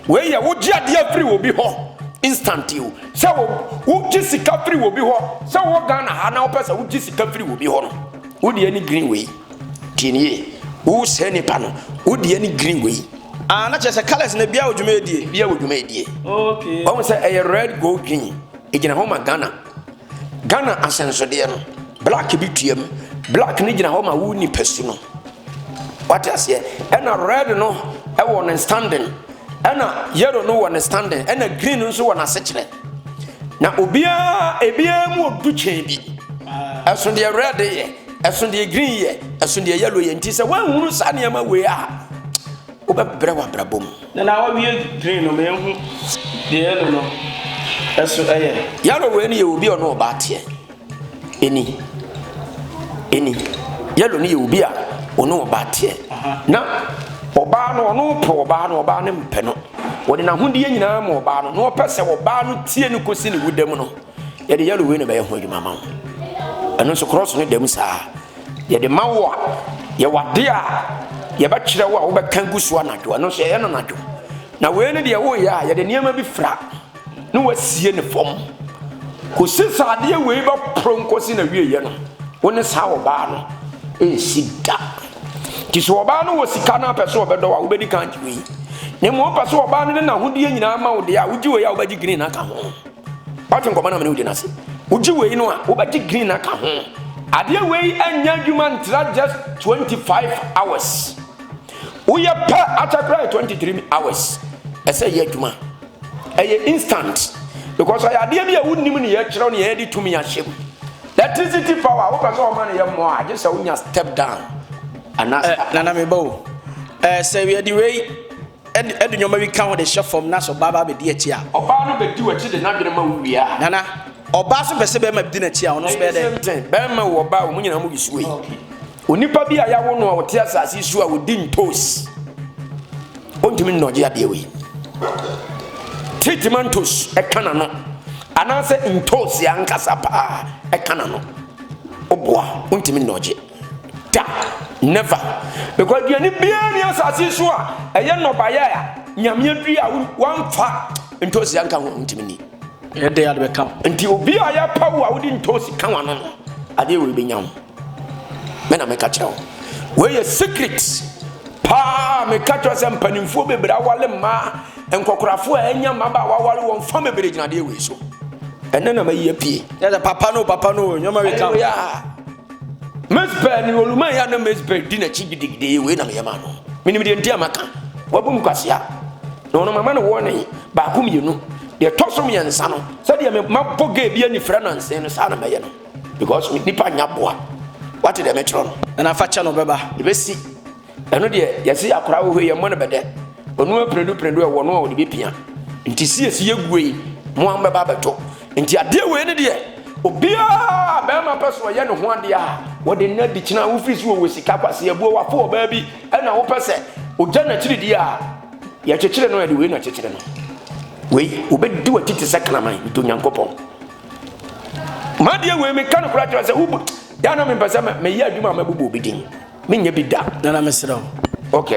Wei yɛ wogye adeɛ firi wɔ bi hɔ instant o. Sɛ wogye sika firi wɔ bi hɔ, sɛ wɔ Ghana ha na wopɛ sɛ wogye sika firi wɔ bi hɔ no, wo deɛ ne green wei. Tie no yie. Wo saa nipa no wo deɛ ne green wɔ yi. Ah na kyerɛ sɛ colours no biara wɔ dwuma ɛdie. Biara wɔ dwuma ɛdie. Okay. Wɔn mu sɛ ɛyɛ red gold green. Egyina hɔ ma Ghana. Ghana asɛnsodeɛ no. Black bi tua mu. Black no gyina hɔ ma wo nipa su no. Wate aseɛ. Ɛna red no ɛwɔ ne standing. Ɛna yellow no wɔ ne standing. Ɛna green no nso wɔ n'asekyerɛ. Na obiara ebiara mu odu kyɛn bi. Ah. Ɛso deɛ red yɛ. Ɛso deɛ green yɛ, ɛso deɛ yellow yɛ nti sɛ woanhunu saa nneɛma wei a wobɛbrɛ w'abrabɔ mu. Na na wawie green no mehu deɛ yellow no ɛso ɛyɛ. Yellow wei no yɛ obi a ɔne ɔbaa teɛ. Ɛni. Ɛni. Yellow no yɛ obi a ɔne ɔbaa teɛ. Na ɔbaa no ɔno pɛ ɔbaa no ɔbaa no mpɛ no. Ɔde n'ahodeɛ nyinaa ma ɔbaa no na ɔpɛ sɛ ɔbaa no tie no kɔsi ne wuda mu no. yɛde yellow wei na bɛyɛ ho adwuma ma wo ɛno nso cross no dam saa yɛde ma wo a yɛwɔ ade a yɛbɛkyerɛ wo a wobɛka gu so anadwo ɛno nso yɛyɛ no anadwo na wei no deɛ woyɛ a yɛde nneɛma bi fra na wasie ne fam kɔsi saa adeɛ wei bɛporo nkɔsi na wieɛ no wo ne saa ɔbaa no ɛnsi da nti sɛ ɔbaa no wɔ sika no apɛ sɛ ɔbɛdɔ a wobɛdi kan gye wei na mmom wopɛ sɛ ɔbaa no ne n'ahodeɛ nyinaa ma wo deɛ a wogye wei a wobɛgye green aka ho Wate nkɔmmɔ no a me ne wo di no ase? Wogye wei no a, wobɛgye green aka ho. Adeɛ wei anya adwuma ntra just 25 hours. Woyɛ pɛ akyɛ koraa yɛ 23 hours. Ɛsɛ yɛ adwuma. Ɛyɛ instant. Because ɔyɛ adeɛ bi a wonim ne yɛkyerɛw ne yɛde tumi ahyɛ mu. Electricity power wopɛ sɛ ɔma no yɛ mmɔ a, gye sɛ wonya step down. Ana, eh, nana meba o. Eh, sɛ yɛde wei Ɛde nneɛma bi ka ho de hyɛ fam na sɛ ɔbaa ba abɛdi akyi a. Ɔbaa no bɛdi w'akyi de n'adwene ma wo wie a. Nana, ɔbaa nso pɛ sɛ bɛrima bɛdi n'akyi a, ɔno nso bɛyɛ dɛn? Ɛyɛ the same thing. Bɛrima wo ɔbaa wo, mo nyinaa mo bi so yi. Onipa bi a yɛawo no a ɔte asase yi so a ɔdi ntos, ɔntumi nnɔgye adeɛ wei. Te timantos ɛka n'ano anaasɛ ntos ankasa paa ɛka n'ano, woboa, ɔntumi nnɔgye. Da! Never! Because aduane biara nni asase yi so a ɛyɛ nnɔbaeɛ a Nyame adui a wamfa ntoosi anka ho ntumi ni. Ɛyɛ dɛ ade bɛka wo. Nti obi a yɛpa wo a wode ntoosi ka wano no, adeɛ wei bɛnya wo. Me na meka kyerɛ wo. Wei yɛ secret paa meka kyerɛ sɛ mpanimfoɔ bebree awale mmaa nkɔkorafoɔ a ɛnya mmabaawa awale wɔn fa bebree gyina adeɛ wei so. Ɛnɛ na mayi apue. Yɛ sɛ papa no papa no nyɛma wei ka ho. Mespɛɛ ne oluman a na Mespɛɛ di n'akyi gidigidi yi wei na meyɛ maa no. Menim deɛ nti a maka. Wabu me kwasea. Na ɔno mama no warning baako mmienu. Deɛ ɛtɔ so mmiɛnsa no, sɛdeɛ me mabɔ gay bi anifira nansen no, saa na mɛyɛ no. Because nipa nnya boa. Woate deɛ mekyerɛ no? Na fa kyɛ no, ɔbɛba. Ɛbɛsi. Ɛno deɛ, yɛse akwadaa wɔ hɔ yi, yɛmmɔ no bɛdɛ. Ɔno ara prɛdu prɛdu ɛwɔ no a ɔde bɛpia. Nti siesi yɛguo yi, mo ara mobɛba abɛtɔ. Nti adeɛ wei no deɛ, obiara a barima pɛ sɛ ɔyɛ ne ho adeɛ a, wɔde nnɛ de kyena wofiri so wɔwɔ sika, kwaseabuo, wafo ɔbaa bi na wopɛ sɛ ɔgya n'akyiri deɛ a, yɛkyekyere no a, yɛde wei na akyekyere no. Wei, wɔbɛdi w'akyi te sɛ kraman, nti Onyankopɔn. M'adeɛ wei, meka no koraa kyerɛ sɛ, wobu, yɛ a na mempɛ sɛ meyɛ adwuma a mɛbobɔ obi din. Me nyɛ bi da nana mesrɛ wo. Ok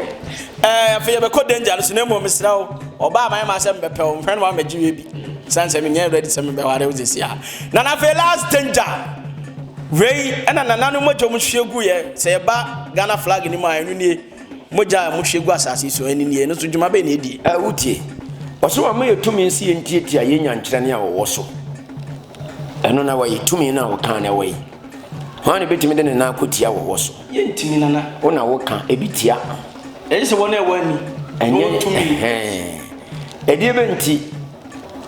ɛɛ afei yɛbɛkɔ danger no so na mmom mesrɛ wo ɔbaa mayɛ maa sɛ mbɛpɛ wo mfrɛ no wa mbɛgye wie bi sane sɛ menyɛ ready sɛ mebɛware wo sɛsi a nana afei last danger wei ɛna nana no mogya mu hwie gu yɛ sɛ yɛba Ghana flag no mu a ɛno nie mogya a mo hwie gu asase so ɛno nie ɛno so dwuma bɛyɛ na ɛdie ɛɛ wotie ɔsɛ wɔn yɛ tumi nsi yɛ ntiatia yɛ nyankyerɛ ne a wɔwɔ so ɛno na wɔyɛ tumi no a wɔkaa na ɛwɔ yi Hwan na obetumi de ne nan akotia wɔ wɔ so? Yɛntumi, Nana. Wo na woka, ebi tia. Ɛyɛ sɛ wɔn a ɛwɔ ani. Ɛnyɛ tumi. Ɛdeɛ bɛ nti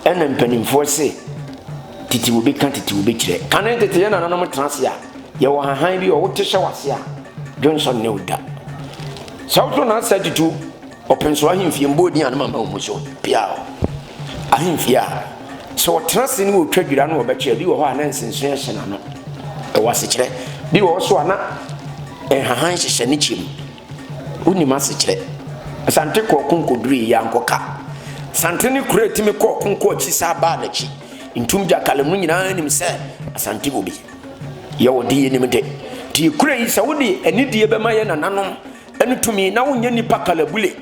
ɛna mpanimfoɔ se tete wo bɛka tete wo bɛkyerɛ kane tete yɛ nananom tena ase a yɛwɔ hahan bi ɔwo te hyɛ wase a dwonsɔ ne wo da sɛ wotɔ na asɛ tutu Ɔpɛnsoro ahemfie mbɔɔ din a ne mama wɔ mu so, Piao ahemfie a sɛ ɔtena ase ne ɔtwa dwira na ɔbɛkyɛ a, bi wɔ hɔ a na nsenso hyɛ n'ano. Ɛwɔ asekyerɛ. Bi wɔ hɔ so a na nhahan hyehyɛ ne kyɛ mu. Wonim asekyerɛ. Asante kɔɔ ko nkɔdurii yɛ ankɔ ka. Asante ne kuro a ɛtumi kɔɔ ko nkɔ akyi saa baa n'akyi. Ntum gya kalem no nyinaa nim sɛ Asante wɔ bi. Yɛ wɔ de yɛnim de. Nti yɛ kuro yi sɛ wode anidie bɛma yɛ nananom Ɛne tumi, na wonyɛ nipa kalabule.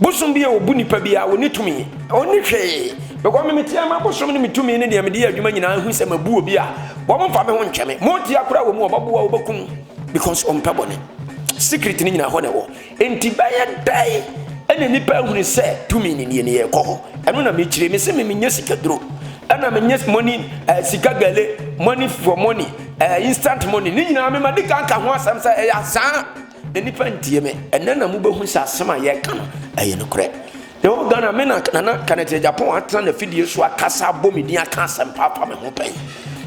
Bosom bi a obu nipa bi a onni tumi. Onni hwee. Because me meteɛ ma bosom ne me tumi ne deɛ mede yɛ adwuma nyinaa ehu sɛ mabu obi a, wɔn mfa me ho nkyɛ me. Motia koraa wɔ mu a, ɔbɛboa wo, ɔbɛkum because ɔmpɛ bɔne. Secret no nyinaa hɔ na ɛwɔ. Enti bɛyɛ dɛn ɛna nipa ahunu sɛ tumi ne nie ne yɛkɔ hɔ. Ɛno na mekyire. Mese me menyɛ sikaduro. Ɛna menyɛ money, uh, sika gale, money for money, uh, instant money. Ne nyinaa mema di kan ka ho asɛm sɛ ɛyɛ asaa. Na nipa ntie me. Ɛnɛ na mo bɛhu sɛ asɛm a yɛreka no ɛyɛ nokorɛ. Na ɛwɔ Ghana me na Nana Kanɛtɛ Japan atena na fidie so akasa abɔ me din aka asɛm paapa me ho pɛn.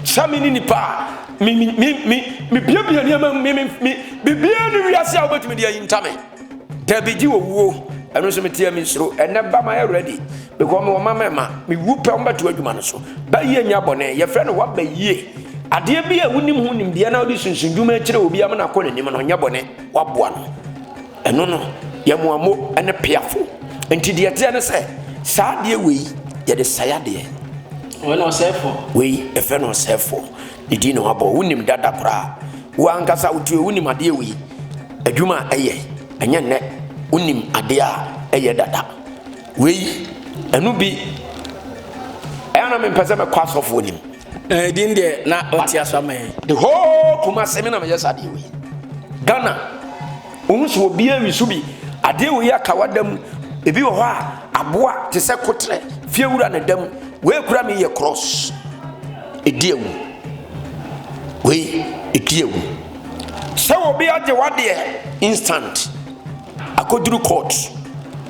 Sɛ me ne nipa a me me me me me biabia nneɛma me me me biribiara ne wiase a wobɛtumi de ayinta me. Dabi gye wɔ wuo. Ɛno nso meteɛ me nsuro. Ɛnɛ ba ma yɛ ready. Because me wɔ mma mɛma me wu pɛ wɔn bɛto adwuma no so ba yie nya bɔne yɛfrɛ no waba yie adeɛ bi a wonim ho nimdeɛ na wode sunsun dwuma akyerɛ obi ama no akɔ n'anim no nyɛ bɔne waboa no ɛno no yɛ moamo ne peafo nti deɛ teɛ ne sɛ saa adeɛ wei yɛde sɛe adeɛ wei ɛfrɛ no ɔsɛefoɔ ne din na wabɔ wonim dada koraa wo ankasa wotuo wonim adeɛ wei adwuma a ɛyɛ ɛnyɛ nnɛ wonim adeɛ a ɛyɛ dada Wei, ɛno bi. Ɛyɛ na mempɛ sɛ mɛkɔ asɔfoɔ nim. Ɛɛ din deɛ na ɔte aso ama yɛn. The whole Kumasi mi na meyɛ saa deɛ wei. Ghana, ohun so obi awi so bi. Adeɛ wei aka wada mu. Ebi wɔ hɔ a, aboa te sɛ kotrɛ, fiewura na ɛda mu. Wei kura mi yɛ cross. Edi awu. Wei, edi awu. Sɛ obi agye wadeɛ instant. Akɔduru court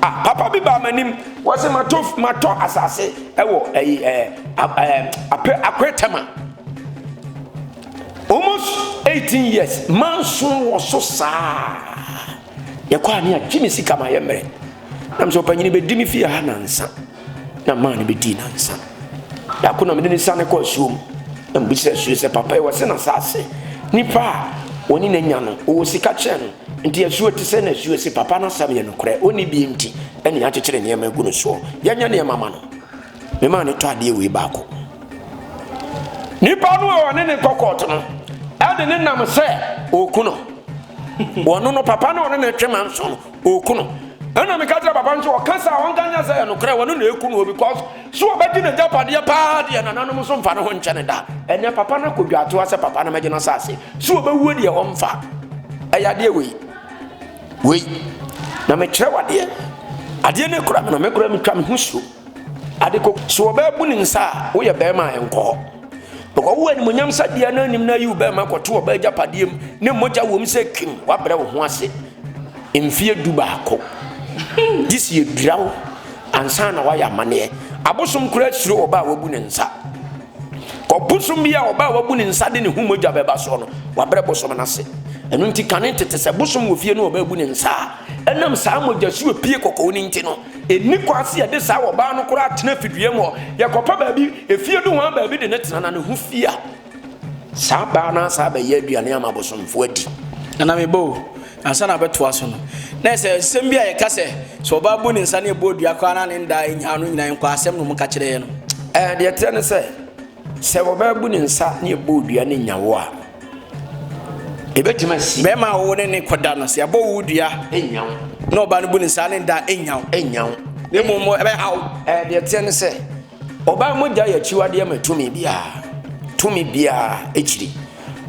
a papa bi baa m'anim wɔse matɔ matɔ asase ɛwɔ ɛyi ɛɛ ɛɛ apɛ akɔɛ tɛma almost eighteen years manso wɔ so saa yɛkɔ a ne agye me sika ma yɛ mmerɛ nam sɛ ɔpanyini bɛdi me fie ha nansa. Na maa no bɛdii nnansa. Da ko na mede no siane kɔɔ asuo mu, na mebisaa asuo sɛ, Papa, ɛwɔ sɛ n'asaase, nnipa a wɔne no anya no, wɔwɔ sika kyɛn no, nti asuo te sɛn? Na asuo se, Papa, n'asɛm yɛ nokorɛ, ɔnni bi nti na yɛakyekyere nneɛma agu no soɔ. Yɛnyɛ nneɛma mma no. Memaa no tɔ adeɛ wei baako. Nipa no a wɔne no kɔ kɔɔto no de no nam sɛ ɔreku no. Wɔno no, papa no a ɔne no twe manso no, Oku no. Ɛna meka kyerɛ papa nso ɔka sɛ ɔnka nyɛ sɛ yɛ nokorɛ wɔno na ɛku no because so ɔbɛgye ne gyapadeɛ paa deɛ nananom nso mfa ne ho nkyɛ ne da ɛnɛ papa no akɔ dwaatoa sɛ papa no mɛgye no asase so ɔbɛwuo deɛ ɔmfa ɛyɛ adeɛ wei wei na mekyerɛ wadeɛ adeɛ no kura me no mekora metwa me ho suo Ade ko, so wɔbɛbu ne nsa a woyɛ barima a ɛnkɔ hɔ. Bɛkɔ wo animonyam sadea no anim na ayi wo barima akɔto ɔbaa agyapadeɛ mu ne mogya wom sɛ kim, woabrɛ wo ho ase mfeɛ du baako. Gye sɛ yɛdwira wo ansa na woayɛ amanneɛ. Abosom koraa suro ɔbaa a wabu ne nsa. Kɔ bosom bi a ɔbaa a wabu ne nsa de ne ho mogya bɛba soɔ no, wabrɛ bosom no ase. Ɛno nti kane tete sɛ bosom wɔ fie no ɔbaa bu ne nsa a, ɛnam saa mogyasuo pie kɔkɔɔ no nti no, Nni kwan sɛ yɛde saa ɔbaa no koraa tena fidua mu hɔ. Yɛkɔpɛ baabi, efie nohoa baabi de no tena, na ne ho fi a, saa baa no asan abɛyɛ aduane ama abosomfo adi. Nana me ba o, ansa na abɛtoa so no, na ɛsɛ sɛ nsɛm bi a yɛka sɛ, sɛ ɔbaa bu ne nsa na ɛbɔ dua koraa na ne nda nnyaa no nyinaa nkɔ asɛm na wɔka kyerɛ yɛn no. Ɛɛ, deɛ ɛteɛ ne sɛ, sɛ ɔbaa bu ne nsa na ɛbɔ dua na ɛnya wo a, Ebetumi asi. Bɛrima a ɔwɔ ne ne kɔda no, sɛ yɛabɔ wo dua. Enyaw. Na ɔbaa no bu ne nsa ne nda enyaw. Enyaw. Na mmom ɛbɛhaw. Ɛɛ deɛ ɛteɛ ne sɛ, ɔbaa mogya yɛ akyiwadeɛ ma tumi biara. Tumi biara akyiri.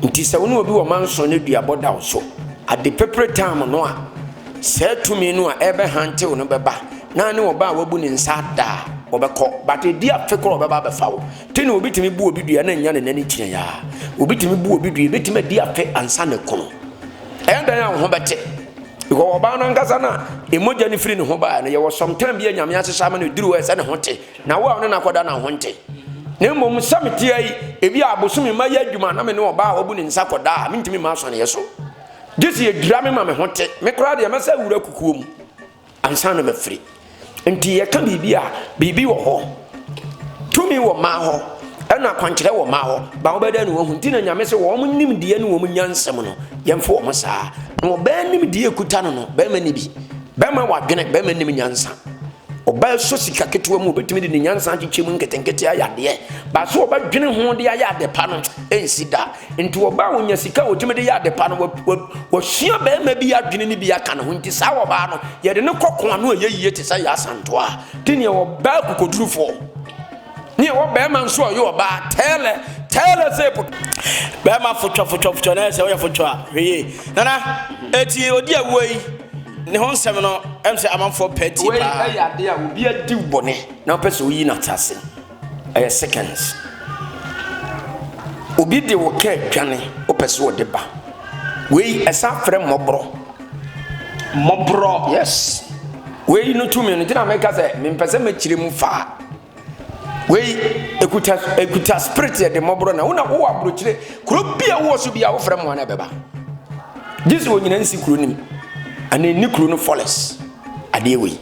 Nti sɛ wo ne obi wɔ manson ne duabɔ da wo so, ade pepere tam no a, saa tumi no a ɛrebɛhantew no bɛba, na ne ɔbaa a wabu ne nsa ada a, ɔbɛkɔ. But edi afe koraa a ɔbɛba abɛfa wo. Te na obi tumi bu obi dua na nya ne nan ne gyina ya. Obi tumi bu obi dua, ebetumi adi afe ansa ne kono. Ɛyɛ dan a wo ho bɛte. Because ɔbaa no ankasa na emogya no firi ne ho baa no yɛwɔ sometime bi a nyame ahyehyɛ ama no eduru hɔ ɛsɛ ne ho te. Na wo a ɔne no akɔda na ho nte. Na mmom sɛ mete yi, ebi a abosom mma yɛ adwuma na me ne ɔbaa a wabu ne nsa kɔda a mentumi mma asɔneɛ so. Gye sɛ yɛdwira me ma me ho te. Me koraa deɛ mɛsɛ awura kukuo mu. Ansa na mafiri. Nti yɛka biribi a, biribi wɔ hɔ. Tumi wɔ mmaa hɔ, ɛna akwankyerɛ wɔ mmaa hɔ. Ba wɔbɛda ne wɔhu. Nti na nyame sɛ wɔn nimdeɛ ne wɔn nyansam no, yɛmfo wɔn saa. Na ɔbaa nimdeɛ kuta no no, bɛrima ni bi. Bɛrima wɔ adwene, bɛrima nim nyansa. Ɔbaa sɔ sika ketewa mu, obɛtumi de ne nyansa akyekyɛ mu nketenkete ayɛ adeɛ. Baa sɛ ɔbɛdwene ho de ayɛ adepa no, ɛnsi da. Nti ɔbaa onya sika ɔtumi de yɛ adepa no wasua bɛrima bi adwene no bi aka ne ho nti saa ɔbaa no yɛde ne kɔ koa no ɛyɛ yie te sɛ yɛ asantoa de neɛ ɔbaa kokodurufoɔ ne ɛwɔ bɛrima nso ɔyɛ ɔbaa tɛɛlɛ tɛɛlɛ sɛ po bɛrima fotwa fotwa fotwa na ɛsɛ ɔyɛ fotwa a hwee nana ɛti ɔdi awuo yi ne ho nsɛm no ɛm sɛ amanfoɔ pɛ ti paa wei ɛyɛ adeɛ a obi adi bɔne na ɔpɛ sɛ ɔyi no atase Ɛyɛ seconds. Obi de wo car dwane, wopɛ sɛ ɔde ba. Wei ɛsan frɛ mmɔborɔ. Mmɔborɔ, yes. Wei no tumi no gyina meka sɛ mempɛ sɛ mɛkyerɛ mu faa. Wei ekuta ekuta spirit yɛ de mmɔborɔ na wona wowɔ aburokyire kuro bi a wowɔ so bi a wofrɛ mmoa na ɛbɛba. Gye sɛ onyina nsi kuro no mu anaa ɛnni kuro no fɔlɛs. adeɛ wei.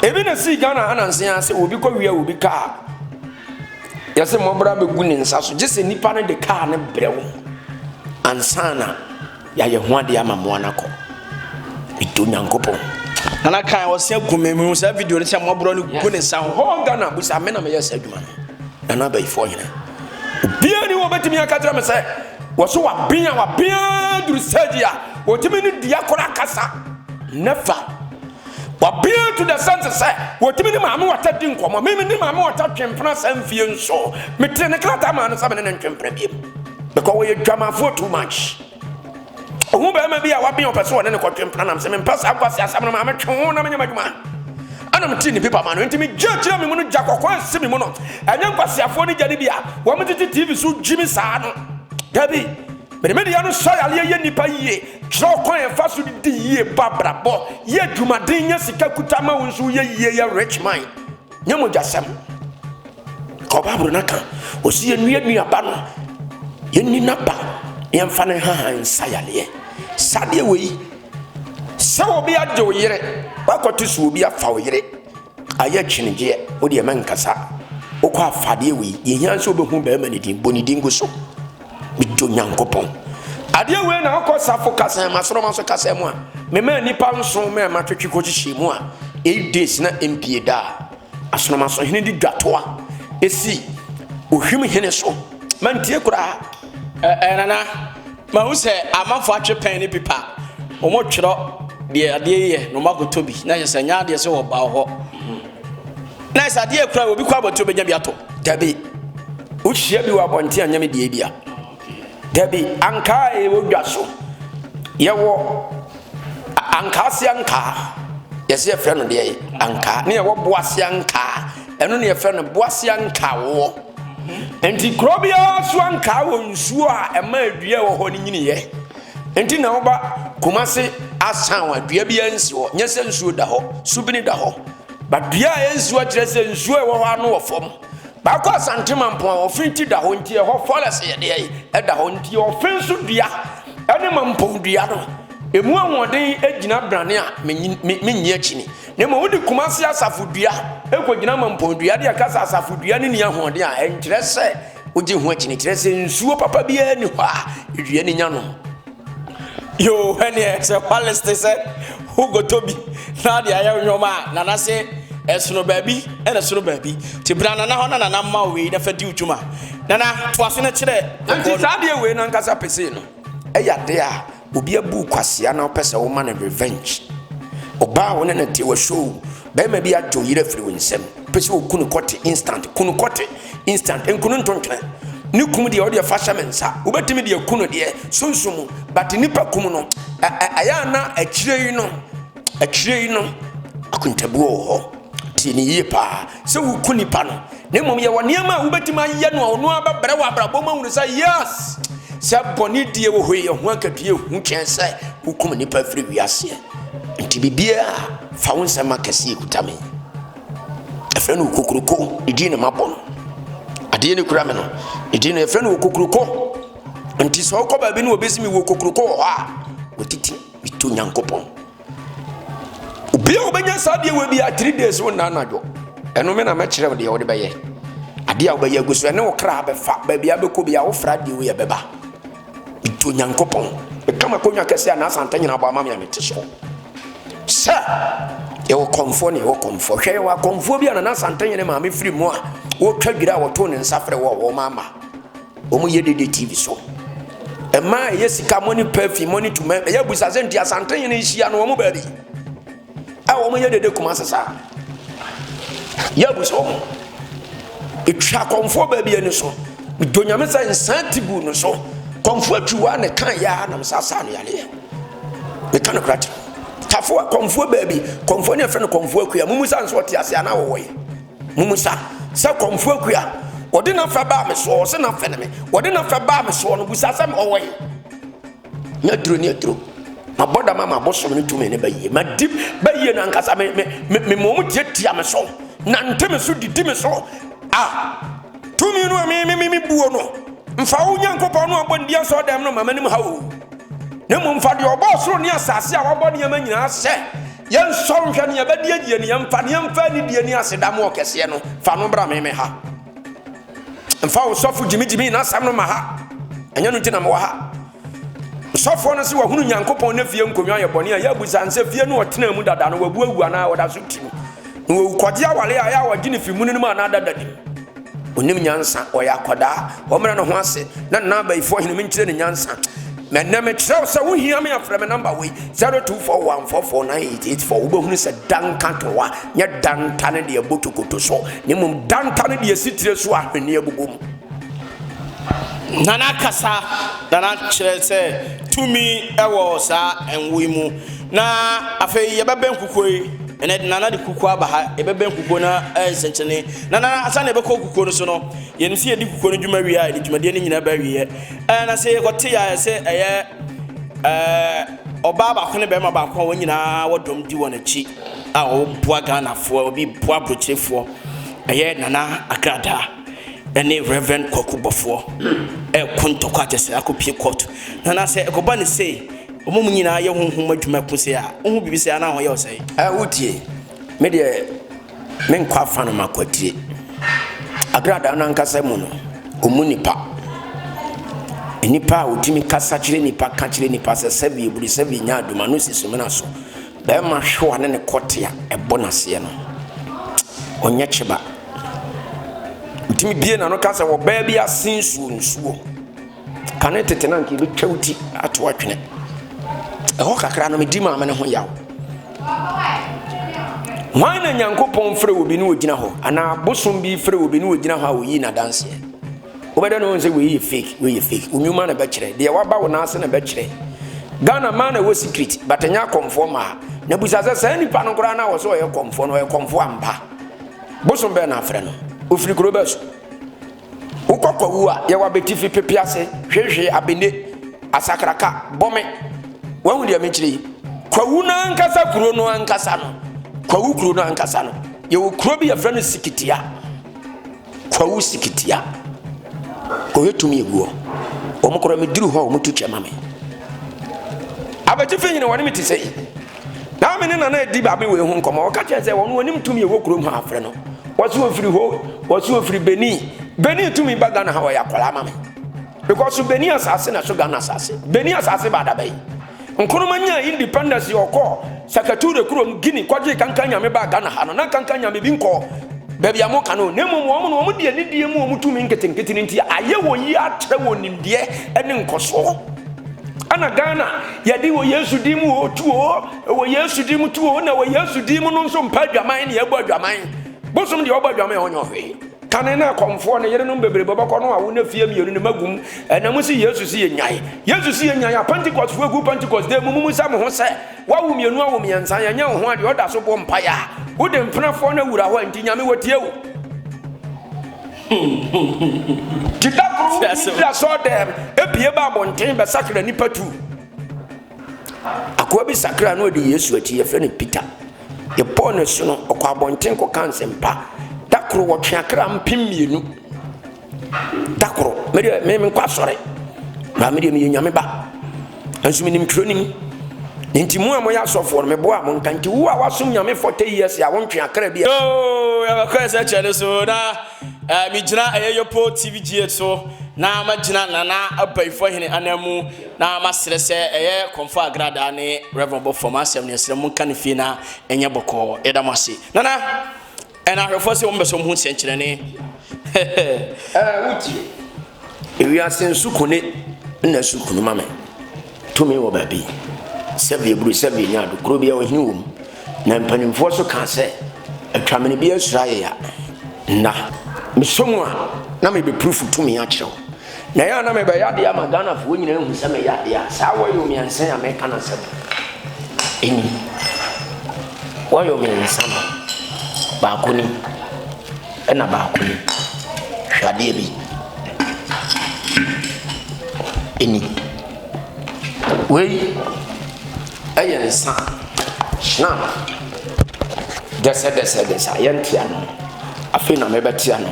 Ebi na sii Ghana ananse ara sɛ obi kɔ wia obi kaa yɛsɛ mmɔbra bɛgu ne nsa so gye sɛ nipa no de kaa no brɛ wo ansa na yɛayɛ ho adeɛ ama mmoa no akɔ ɛdɔ nyankopɔn nana kan ɔsɛ gu me mu saa video no sɛ mmɔborɔ no gu ne nsa ho hɔ Ghana busa me na meyɛ saa adwuma no nana abayifoɔ hena Obiara ni hɔ a obetumi aka akyerɛ me sɛ wɔso waben a waben ara duru stage a wɔtumi ne dua koro akasa. Never. Waben to the sense sɛ wɔtumi ne maame wata di nkɔmmɔ. Mimi ne maame wata twe mpena saa mfie nso. Metere ne krataa maa no sɛ me ne ne ntwe mpena biom. Because wɔyɛ dwamafoɔ too much. Ohuu barima bi a waben a ɔpɛ sɛ ɔne no kɔtwe mpena nam se, Mempɛ saa nkwaseasɛm no, ma metwe ho na menyɛ m'adwuma. Ɛna metee ne pipa ma no, enti megyee gyina me mu no gya kɔkɔɔ a ɛsi me mu no, ɛnyɛ nkwaseafoɔ no gya no bi a wɔgyegye TV so gye me saa no. Dabi, mede me deɛ no sɔ yareɛ, yɛ nnipa yie, kyerɛ ɔkwan a yɛfa so di yie, bɔ abrabɔ, yɛ adwumaden, nya sika kuta ma wo nso woyɛ yie, yɛ rich man. Nyɛ mogyasɛm. Kɔ Bible no aka. Ɔsi yɛnnua nnuaba no, yɛnni n'aba, na yɛmfa no nhahan nsa yareɛ. Saa deɛ wɔ yi, sɛ obi agye wo yere, wakɔto so obi afa wo yere, ayɛ kyenegyeɛ, wo deɛ mɛnkasa. Wokɔ afadeɛ wɔ yi, deɛ hia sɛ wobɛhu bɛrima no din, bɔ ne din gu so. Medɔ Nyankopɔn. Adeɛ wei na ɔkɔ safo kasa ma soroma so kasa mu a mema nipa nson mɛ ma twetwe kɔ hyehyɛ mu a 8 days na mpie da asoroma so hene de dwatoa esi ohwim hene so mantie koraa ɛɛ nana ma hu sɛ amanfo atwe pɛn ne pipa wɔn twerɛ deɛ adeɛ yɛ na wɔn akɔtɔ bi na yɛ sɛ nyɛ adeɛ sɛ wɔba hɔ Nice adeɛ kura obi kɔ abɔnten obɛnya bi atɔ. Dabi wohyia bi wɔ abɔnten anyɛ me deɛ bi a dabi ankaa ɛwɔ dwa so yɛwɔ ankaa se ankaa yɛsɛ yɛfrɛ no deɛ ankaa ne yɛwɔ boa se ankaa ɛno ne yɛfrɛ no boa se ankaa woɔ nti kuro biara so ankaa wɔ nsuo a ɛma adua wɔ hɔ no nyiniyɛ nti na woba kuma se asan wa dua biara nsi hɔ nyɛ sɛ nsuo da hɔ subini da hɔ But dua a ɛnsi hɔ akyerɛ sɛ nsuo a ɛwɔ hɔ ano wɔ fam. Baako asante mampɔn a ɔfe ti da hɔ nti ɛhɔ forest yɛde ayi ɛda hɔ nti ɔfe nso dua ɛne mampɔn dua no emu ahoɔden gyina brane a menyi akyi ni na mmom wode kumase asafo dua ɛkɔgyina mampɔn dua de ɛka sɛ asafo dua no ni ahoɔden a ɛnkyerɛ sɛ Wogye ho akyini kyerɛ sɛ nsuo papa biara nni hɔ a ewia no nya nom. Yoo, ɛneɛ sɛ hwalis te sɛ wogotɔ bi na de ayɛ nnwom a, nana se ɛsono baabi ɛna ɛsono baabi. Nti bra nana hɔ na nana mma wo wei na fa di wo dwuma. Nana, toa so na kyerɛ. Nti saa adeɛ wei no ankasa pesee no ɛyɛ adeɛ a Obi abuu kwasea na wopɛ sɛ woma no revenge. Ɔbaa a wo ne no te wɔ show, barima bi agye wo yere afiri wo nsam, wopɛ sɛ woku no kɔte instant, ku no kɔte instant, nku no ntontwene. Ne kum deɛ, wo deɛ fa hyɛ me nsa. Wobɛtumi deɛ aku no deɛ, sunsum mu, but nnipa kum no, ɛ ɛ ɛyɛ a na akyire yi no, akyire yi no, akontabuo wɔ hɔ. Tie me yie paa. sɛ woku nipa no na mmom yɛwɔ nneɛma a wobɛtumi ayɛ no a ɔno ara bɛbrɛ wɔ abrabɔ mu ahunu sɛ yes sɛ bɔne die wɔ hɔ yi ɛho akatua ɛhu kyɛn sɛ wokum nipa firi wiaseɛ nti biribiaa fa wo nsɛm akɛseɛ ɛkuta me ɛfrɛ no okokuroko ne din ne mabɔ no adeɛ ne kura me no ne din no ɛfrɛ no okokuroko nti sɛ wokɔ baabi ne wɔbɛsi me wɔ okokuroko wɔ hɔ a wɔtiti meto nyankopɔn obi a wobɛnya saa deɛ wɔ bia three days wo nna anadwo ɛno me na mɛkyerɛ wo deɛ wode bɛyɛ adeɛ a wobɛyɛ agu so ɛne wo kra bɛfa baabi a bɛkɔ bia wofra deɛ woyɛ bɛba ɛtu onyankopɔn ɛka makɔnwa kɛsɛ a naasanta nyina bɔ ama me a mete so sɛ yɛwɔ kɔmfoɔ ne yɛwɔ kɔmfoɔ hwɛ yɛwɔ akɔmfoɔ bi a nana santanyɛ ne maame firi mu a wɔtwa dwira a wɔtoo ne nsa frɛ wɔ wɔma ama Wɔn yɛ dede TV so. Mmaa a ɛyɛ sika mo ne pɛfi mo ne tuma ɛyɛ abusa sɛ nti asante yɛn nhyia no wɔn baabi a wɔn yɛ dede kuma sesa yɛ abusa wɔn etwa kɔnfoɔ baabi ani so do nyame sɛ nsan ti bu no so kɔnfoɔ atwi wa ne kan yɛ a nam sa sa no yale yɛ ne kan kura ti tafoɔ kɔnfoɔ baabi kɔnfoɔ ne afɛ no kɔnfoɔ akuya mumu sa nso ɔte ase anaa wɔwɔ yɛ. Mommisa sɛ kɔmfoɔ akua. Wɔde n'afɛ baa me soɔ, wɔse n'afɛ ne me. Wɔde n'afɛ baa me soɔ no, bisa sɛ ɔwɔ he? Nyɛ aduro ne aduro. Mabɔ dam ama abosom no tumi ne bayie. Madi bayie no ankasa. Me, me, me, me mom tiatia me so, nante me so, didi me so. Ah, tumi no a me, me, me, me buo no, mfa wo Nyankopɔn no a ɔbɔ ndi asɔ dɛm no ma m'anim ha o. Na mmom fa deɛ ɔbɔɔ soro ne asase a wabɔ nneɛma nyinaa hyɛ Yɛnsɔre nhwɛ nea ɛbɛde agye yɛn, yɛmfa na yɛmfa anidie ne aseda ma Ɔkɛseɛ no. Fa no bra me me ha. Mfa wo sɔfo Gyimi Gyimi n'asɛm no ma ha. Ɛnyɛ no nti na mewɔ ha. Sɔfoɔ no se wahunu Nyankopɔn ne fie nkonnwa yɛ bɔne a ɛyɛ abusa nsɛ fie no ɔtenaa mu dada no wabu awu anaa ɔda so te mu. Na wawu kɔgye awale a ɛyɛ a wɔgye no fi munu no mu anaa dada no mu. Ɔnim nyansa, ɔyɛ akwadaa. Ɔmmrɛ ne ho ase na nna abayifoɔ hene me nkyerɛ ne nyansa. Mɛ nnɛ me kyerɛ wo sɛ wo hia me a frɛ me number wei 0241449884 wo bɛhunu sɛ danka towa nyɛ danta ne deɛ ɛbɔ tokoto so ne mmom danta ne deɛ ɛsi tire so a hwenneɛ bobɔ mu. Nana kasa, Nana kyerɛ sɛ tumi wɔ saa nwoyi mu. Na afei yɛbɛbɛn kukuo yi, ɛnɛ de Nana de kukuo aba ha, yɛbɛbɛn kukuo no ayɛ nsɛnkyerɛnne. Na Nana, ansa na yɛbɛkɔ kukuo no so no, yɛnim sɛ yɛdi kukuo no dwuma wie a, yɛde dwumadie no nyinaa ba awieɛ. Ɛɛ, na sɛ yɛkɔte a, ɛsɛ ɛyɛ ɛɛ ɔbaa baako ne barima baako a wɔn nyinaa wɔ dɔm di wɔn akyi a wɔboa Ghanafoɔ, obi boa aburokyerefoɔ. Ɛyɛ Nana Agradaa ɛne Rev. Kwaku Bɔfoɔ ɛɛko ntɔkwa kyɛ sɛ akɔpie kɔɔto. Nana, sɛ ɛkɔba no sei, Wɔn mu nyinaa yɛ honhom adwuma ku sɛ a, wohu biribi sɛ anaa wɔyɛ ɔsɛe. Ɛ, wotie? Me deɛ, menkɔ afa no makwatire. Agradaa no ankasa mu no, wɔmmu nnipa. Nnipa a wɔtumi kasa kyerɛ nnipa ka kyerɛ nnipa sɛ, Sɛbi eburu, sɛbi nya adum, ano si sumina so. Barima hwewa ne ne kɔte a ɛbɔ n'aseɛ no, ɔnyɛ kyeba. Ɔtumi bie n'ano ka sɛ, Ɔbaa bi asen nsuo, nsuo. Kane tete no anka yɛbɛtwa wo ti ato atwene. Ɛhɔ kakra no medi maame no ho yaw. Hwan na Nyankopɔn frɛ wɔ bi ne ɔgyina hɔ anaa bosom bi frɛ wɔ bi ne ɔgyina hɔ a ɔyi n'adanseɛ? Wobɛdɛ no sɛ wei yɛ fake, wei yɛ fake. Wo nnwuma na ɛbɛkyerɛ. Deɛ waba wo nan ase na ɛbɛkyerɛ. Ghana maa na ɛwɔ secret but ɛnyɛ akɔmfoɔ maa. Na busa sɛ saa nipa no koraa na wɔ sɛ ɔyɛ kɔmfoɔ no ɔyɛ kɔmfoɔ ampa. Bosom bɛɛ na afrɛ no. Ofiri kuro bɛɛ so. Wo kɔkɔwu a yɛwɔ abetifi pepe ase hwehwee abene asakraka bɔ me. Wahu deɛ mekyerɛ yi? Kwawu no ankasa kuro no ankasa no, Kwawu kuro no ankasa no, yɛwɔ kuro bi yɛfrɛ no Sikitia. Kwawu Sikitia. Kɔhwɛ tumi egu hɔ. Wɔn kora meduru hɔ a wɔtu kyɛ ma me. Abetifi hene wɔne me te sɛ yi. Naomi ne Nana edi baabi wei ho nkɔmɔ. Ɔka kyerɛ sɛ wɔn wɔnim tumi ɛwɔ kurom ha afrɛ no. Wɔsi ofiri hɔ, wɔsi ofiri Benin. Benin tumi ba Ghana ha wɔyɛ akwadaa ma me. Because so Benin asase na so Ghana asase. Benin asase ba adaba yi. Nkrumah nya independence yɛ ɔkɔ Sakature kurom Guinea kɔgye kankan nyame ba Ghana ha no. Na kankan nyame bi nkɔ baabi a moka no. Na mmom wɔn no wɔn deɛ ne die mu wɔn tumi nketenkete no nti ayɛ wɔn yie akyerɛ wɔn nimdeɛ ne nkɔsoɔ. Ɛna Ghana Yɛde wɔ Yesu din mu o tu o, wɔ Yesu din mu tu o, na wɔ Yesu din mu no nso mpa adwaman ne ɛbɔ adwaman. Bosom deɛ ɔbɔ adwaman ɔnyɛ ɔhwee. Kane na akɔmfoɔ ne yerenom bebrebe bɛkɔ no awo na fie mmienu ne magum ɛna mu si Yesu si yɛnyae. Yesu si yɛnyae a Pentecost fo gu Pentecost dɛ mu mumu sɛ mo ho sɛ wawo mmienu awo mmiɛnsa yɛnyɛ wo ho adeɛ ɔda so bɔ mpaeɛ a wode mpenafoɔ no awura hɔ a nti Nyame watie wo. Deda koro wotumi firi asɔɔdɛm ebie ba abɔnten bɛsakra nnipa tu. Akoa bi sakra na ɔde Yesu akyi yɛfrɛ no Peter. Yɛbɔɔ no asu no ɔkɔ abɔnten kɔka nsɛmpa. Da koro wɔtwe akra mpem mmienu. Da koro medeɛ menkɔ asɔre baa medeɛ meyɛ nyame ba. Nanso menim twerɛ no mu. Nti mo a moyɛ asɔfoɔ no, meboa mo nka nti wo a wasom Nyame for 10 years a wontwe akra bi a. Yoo yɛbɛkɔ yɛ sɛ kyɛ no so na eh, megyina ɛyɛ Yopo TV GH so na magyina Nana Abayifoɔ Hene anan mu na masrɛ sɛ ɛyɛ Kɔmfɔ Agradaa ne Rev Bɔfoɔ masɛm no yɛsrɛ mo nka no fie na ɛnyɛ bɔkɔɔ. Yɛda mo ase Nana. ɛna ahwɛfoɔ sɛ wɔn bɛ sɛ wɔn ho nsɛnkyerɛnne ɛɛ wotie ewiase nso kone na nso kunu ma me tumi wɔ baabi sɛbi eburu sɛbi nya do kuro bi a ɔhene wɔ mu na mpanimfoɔ so kaa sɛ atwamene bi asura yɛ ya nna mesɔ mu a na mebɛpurufu tumi akyerɛw Na ɛyɛ a na mebɛyɛ adeɛ ama Ghanafoɔ nyinaa ahu sɛ meyɛ adeɛ a saa wɔyɔ mmiɛnsa a meka no asɛm ɛni. Wɔyɔ mmiɛnsa no, baako ni ɛna baako ni. Hwɛ adeɛ bi. Ɛni. Wei ɛyɛ nsa. Hyena. Dɛsɛdɛsɛdɛsɛ a yɛnte ano. Afei na mebɛte ano.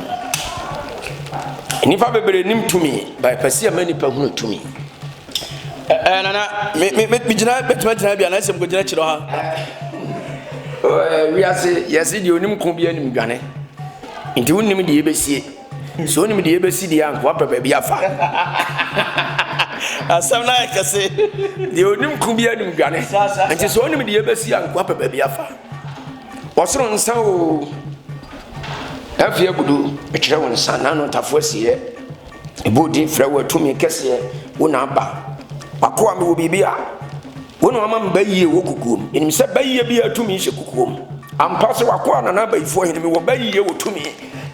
Nnipa bebree nim tumi, ba ɛpɛ sɛ yɛma nnipa hunu tumi. Ɛɛ nana, me me me gyina bɛtuma gyina bi a n'asɛm kɔ gyina kyerɛ ha. Ɛɛ wiase yɛsi deɛ onim ko bi anim dwane, nti wonim deɛ ebesie, so onim deɛ ebesi deɛ anko apɛ baabi afa. Asɛm na yɛ kɛse, deɛ onim ko bi anim dwane, nti so onim deɛ ebesi anko apɛ baabi afa. Ɔsoro nsa oo, Afie agudo ɛkyerɛ wo nsa n'ano ntafo asieɛ Ɛbɔ din frɛ wo atumi kɛseɛ wo na aba W'akoa mewɔ biribi a wo na wama me ba yie wɔ kukuo mu Menim sɛ ba yie biara tumi hyɛ kukuo mu Ampa sɛ w'akoa Nana Abayifoɔ hene mewɔ ba yie wɔ tumi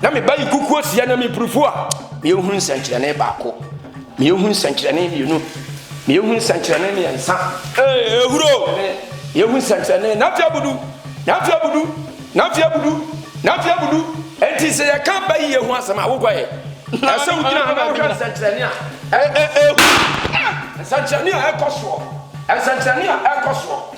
Na me ba yi kukuo sia na mepirifu a Meyɛ hunu nsɛnkyerɛnne baako Ma yɛnhu nsɛnkyerɛnne mmienu. Ma yɛnhu nsɛnkyerɛnne mmiɛnsa. Ee, ehuro. Ɛne, ma yɛnhu nsɛnkyerɛnne nafe abudu, nafe abudu, nafe abudu, nafe abudu. Enti sɛ yɛka ba yie ho asɛm a, wokɔ ɛ. Ɛsɛ wogyina ha na wohwɛ nsɛnkyerɛnne a ɛkɔ soɔ. Nsɛnkyerɛnne a ɛkɔ soɔ. Nsɛnkyerɛnne a ɛkɔ soɔ.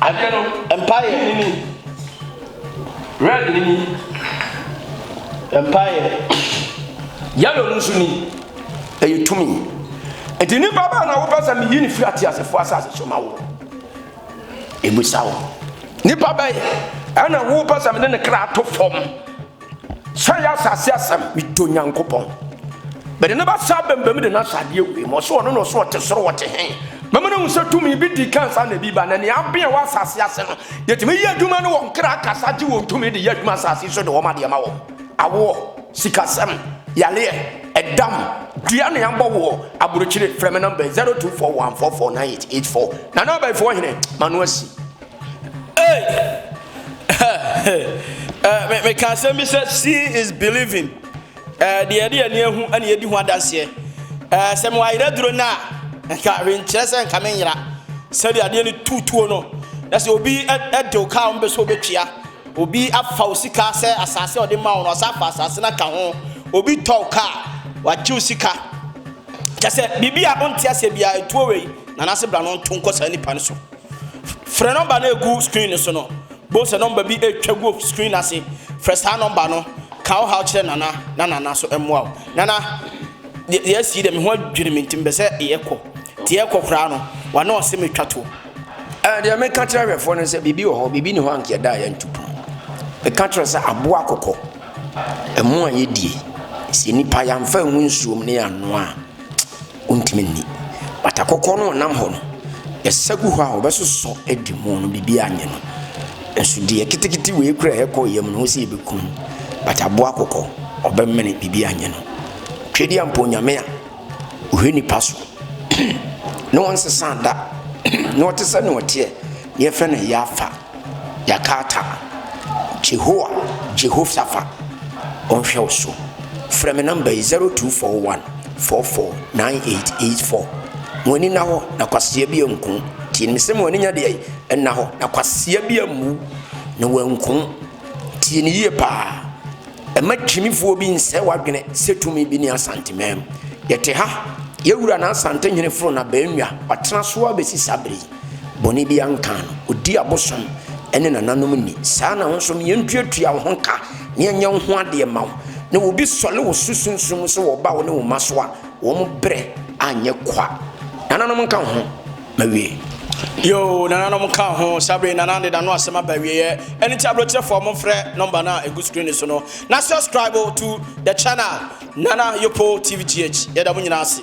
Adeɛ no mpaeɛ ne ni. Red no ni. Mpaeɛ. Yellow no nso ni. Ɛyɛ tumi. Nti nipa baa na wopɛ sɛ meyi ne firi ateasefoɔ asase so ma wo. Ɛbusa wo. Nipa bɛyɛ ɛna wopɛ sɛ mene ne kra to fam. Sɛ yɛ asase asɛm, medɔ Nyankopɔn. Mede ne basa abam bam de no ahyɛ adeɛ wei mu. Ɔsɛ ɔno na ɔsɛ ɔte soro wɔte he. Mɛma no ahu sɛ tumi bi di kan saa na ebi ba, na nea abea wɔ asase ase no, yɛtumi yɛ adwuma ne wɔn kra kasa gye wɔn tumi de yɛ adwuma asase so de wɔn adeɛ ma wɔn. Awoɔ, sikasɛm, yareɛ, ɛdam, dua ne abɔ woɔ, aburokyire, frɛ me nɔmba yi 0241449884. Nana Abaifoɔ hene, m'ano asi. meka asɛm bi sɛ seeing is believing eh, deɛ yɛde yɛn ahu na yɛdi ho adanseɛ eh, sɛ mewɔ ayerɛ duro no a nka renkyerɛ sɛ nka menyera sɛdeɛ adeɛ no tutuo no na sɛ obi ɛde wo kaa ɔmbɛ sɛ obɛtua obi afa wo sika sɛ asase a ɔde ma wo no ɔsa afa asase no aka ho obi tɔ wo kaa wagye wo sika kyɛ sɛ biribi a wonte aseɛ biara ɛtuo wei nanase bra no nto nkɔ saa nipa no so Frɛ nɔmba no a egu screen no so no. Bohu sɛ nɔmba bi retwa gu screen no ase. Frɛ saa nɔmba no. Ka wo haw kyerɛ Nana na Nana so mmoa wo. Nana, yɛasi yi dɛ, me ho adwiri me ntsi mepɛ sɛ yɛkɔ. Ntsi yɛkɔ koraa no, ɔana ɔse metwa tow. Ɛɛ, deɛ meka kyerɛ ahwɛfoɔ no sɛ biribi wɔ hɔ, biribi nni hɔ a anka yɛda a yɛantu pon. Meka kyerɛ wo sɛ aboa akokɔ, ɛmo a yɛdie, sɛ nnipa yɛamfa angu nsuom na yɛannoa a, Wontumi nni. Bata kɔkɔɔ no ɔnam hɔ no, ɛsa gu hɔ a ɔbɛsosɔ adi mu no biribi anyɛ no. Nso deɛ kitikiti wei kura ɛkɔ yam no, wo sɛ yɛbɛkum bataboa kɔkɔ, ɔbɛmene biribi anyɛ no. Twɛdi ampa onyame a ɔhwɛ nipa so ne ɔnsesa da ne ɔte sɛ ne ɔteɛ ne yɛfrɛ no ɛyɛ afa. Yɛakaata, Jehoah, Jehoshaphat, ɔnhwɛ wo so. Frɛ me nɔmba yi, 0241 44 9884. Ma w'ani nna hɔ, na kwasea bi anku wo. Tie no, mese ma w'ani nyɛ deɛn? Nna hɔ, na kwasea bi ammu wo, na wanku wo. Tie no yie pa ara. Mma gyimifoɔ bi nsɛe w'adwene sɛ tumi bi ne Asanteman mu. Yɛte ha, yɛn wura na Asantehene Fronah Bawuah, watena so ara bɛsi saa berɛ yi. Bɔne biara nkaa no. Ɔdi abosom ne nananom ni. Saa ara na wo nso, ma yɛntuatua wo ho ka, na yɛnyɛ wo ho adeɛ mma wo. Na obi sɔre wo so sunsum mu sɛ ɔreba wo ne wo mma so a, wɔn berɛ anyɛ kwa. Nananom nka wo ho. Mawie. Yoo, nananom nka wo ho. Saa berɛ yi, Nana Ade da no asɛm aba awieɛ. Ɛno nti, aburokyerɛfoɔ, momfrɛ nɔmba no a ɛgu screen no so no, na subscribe to the channel Nana Yopo TVGH. Yɛda mo nyinaa ase.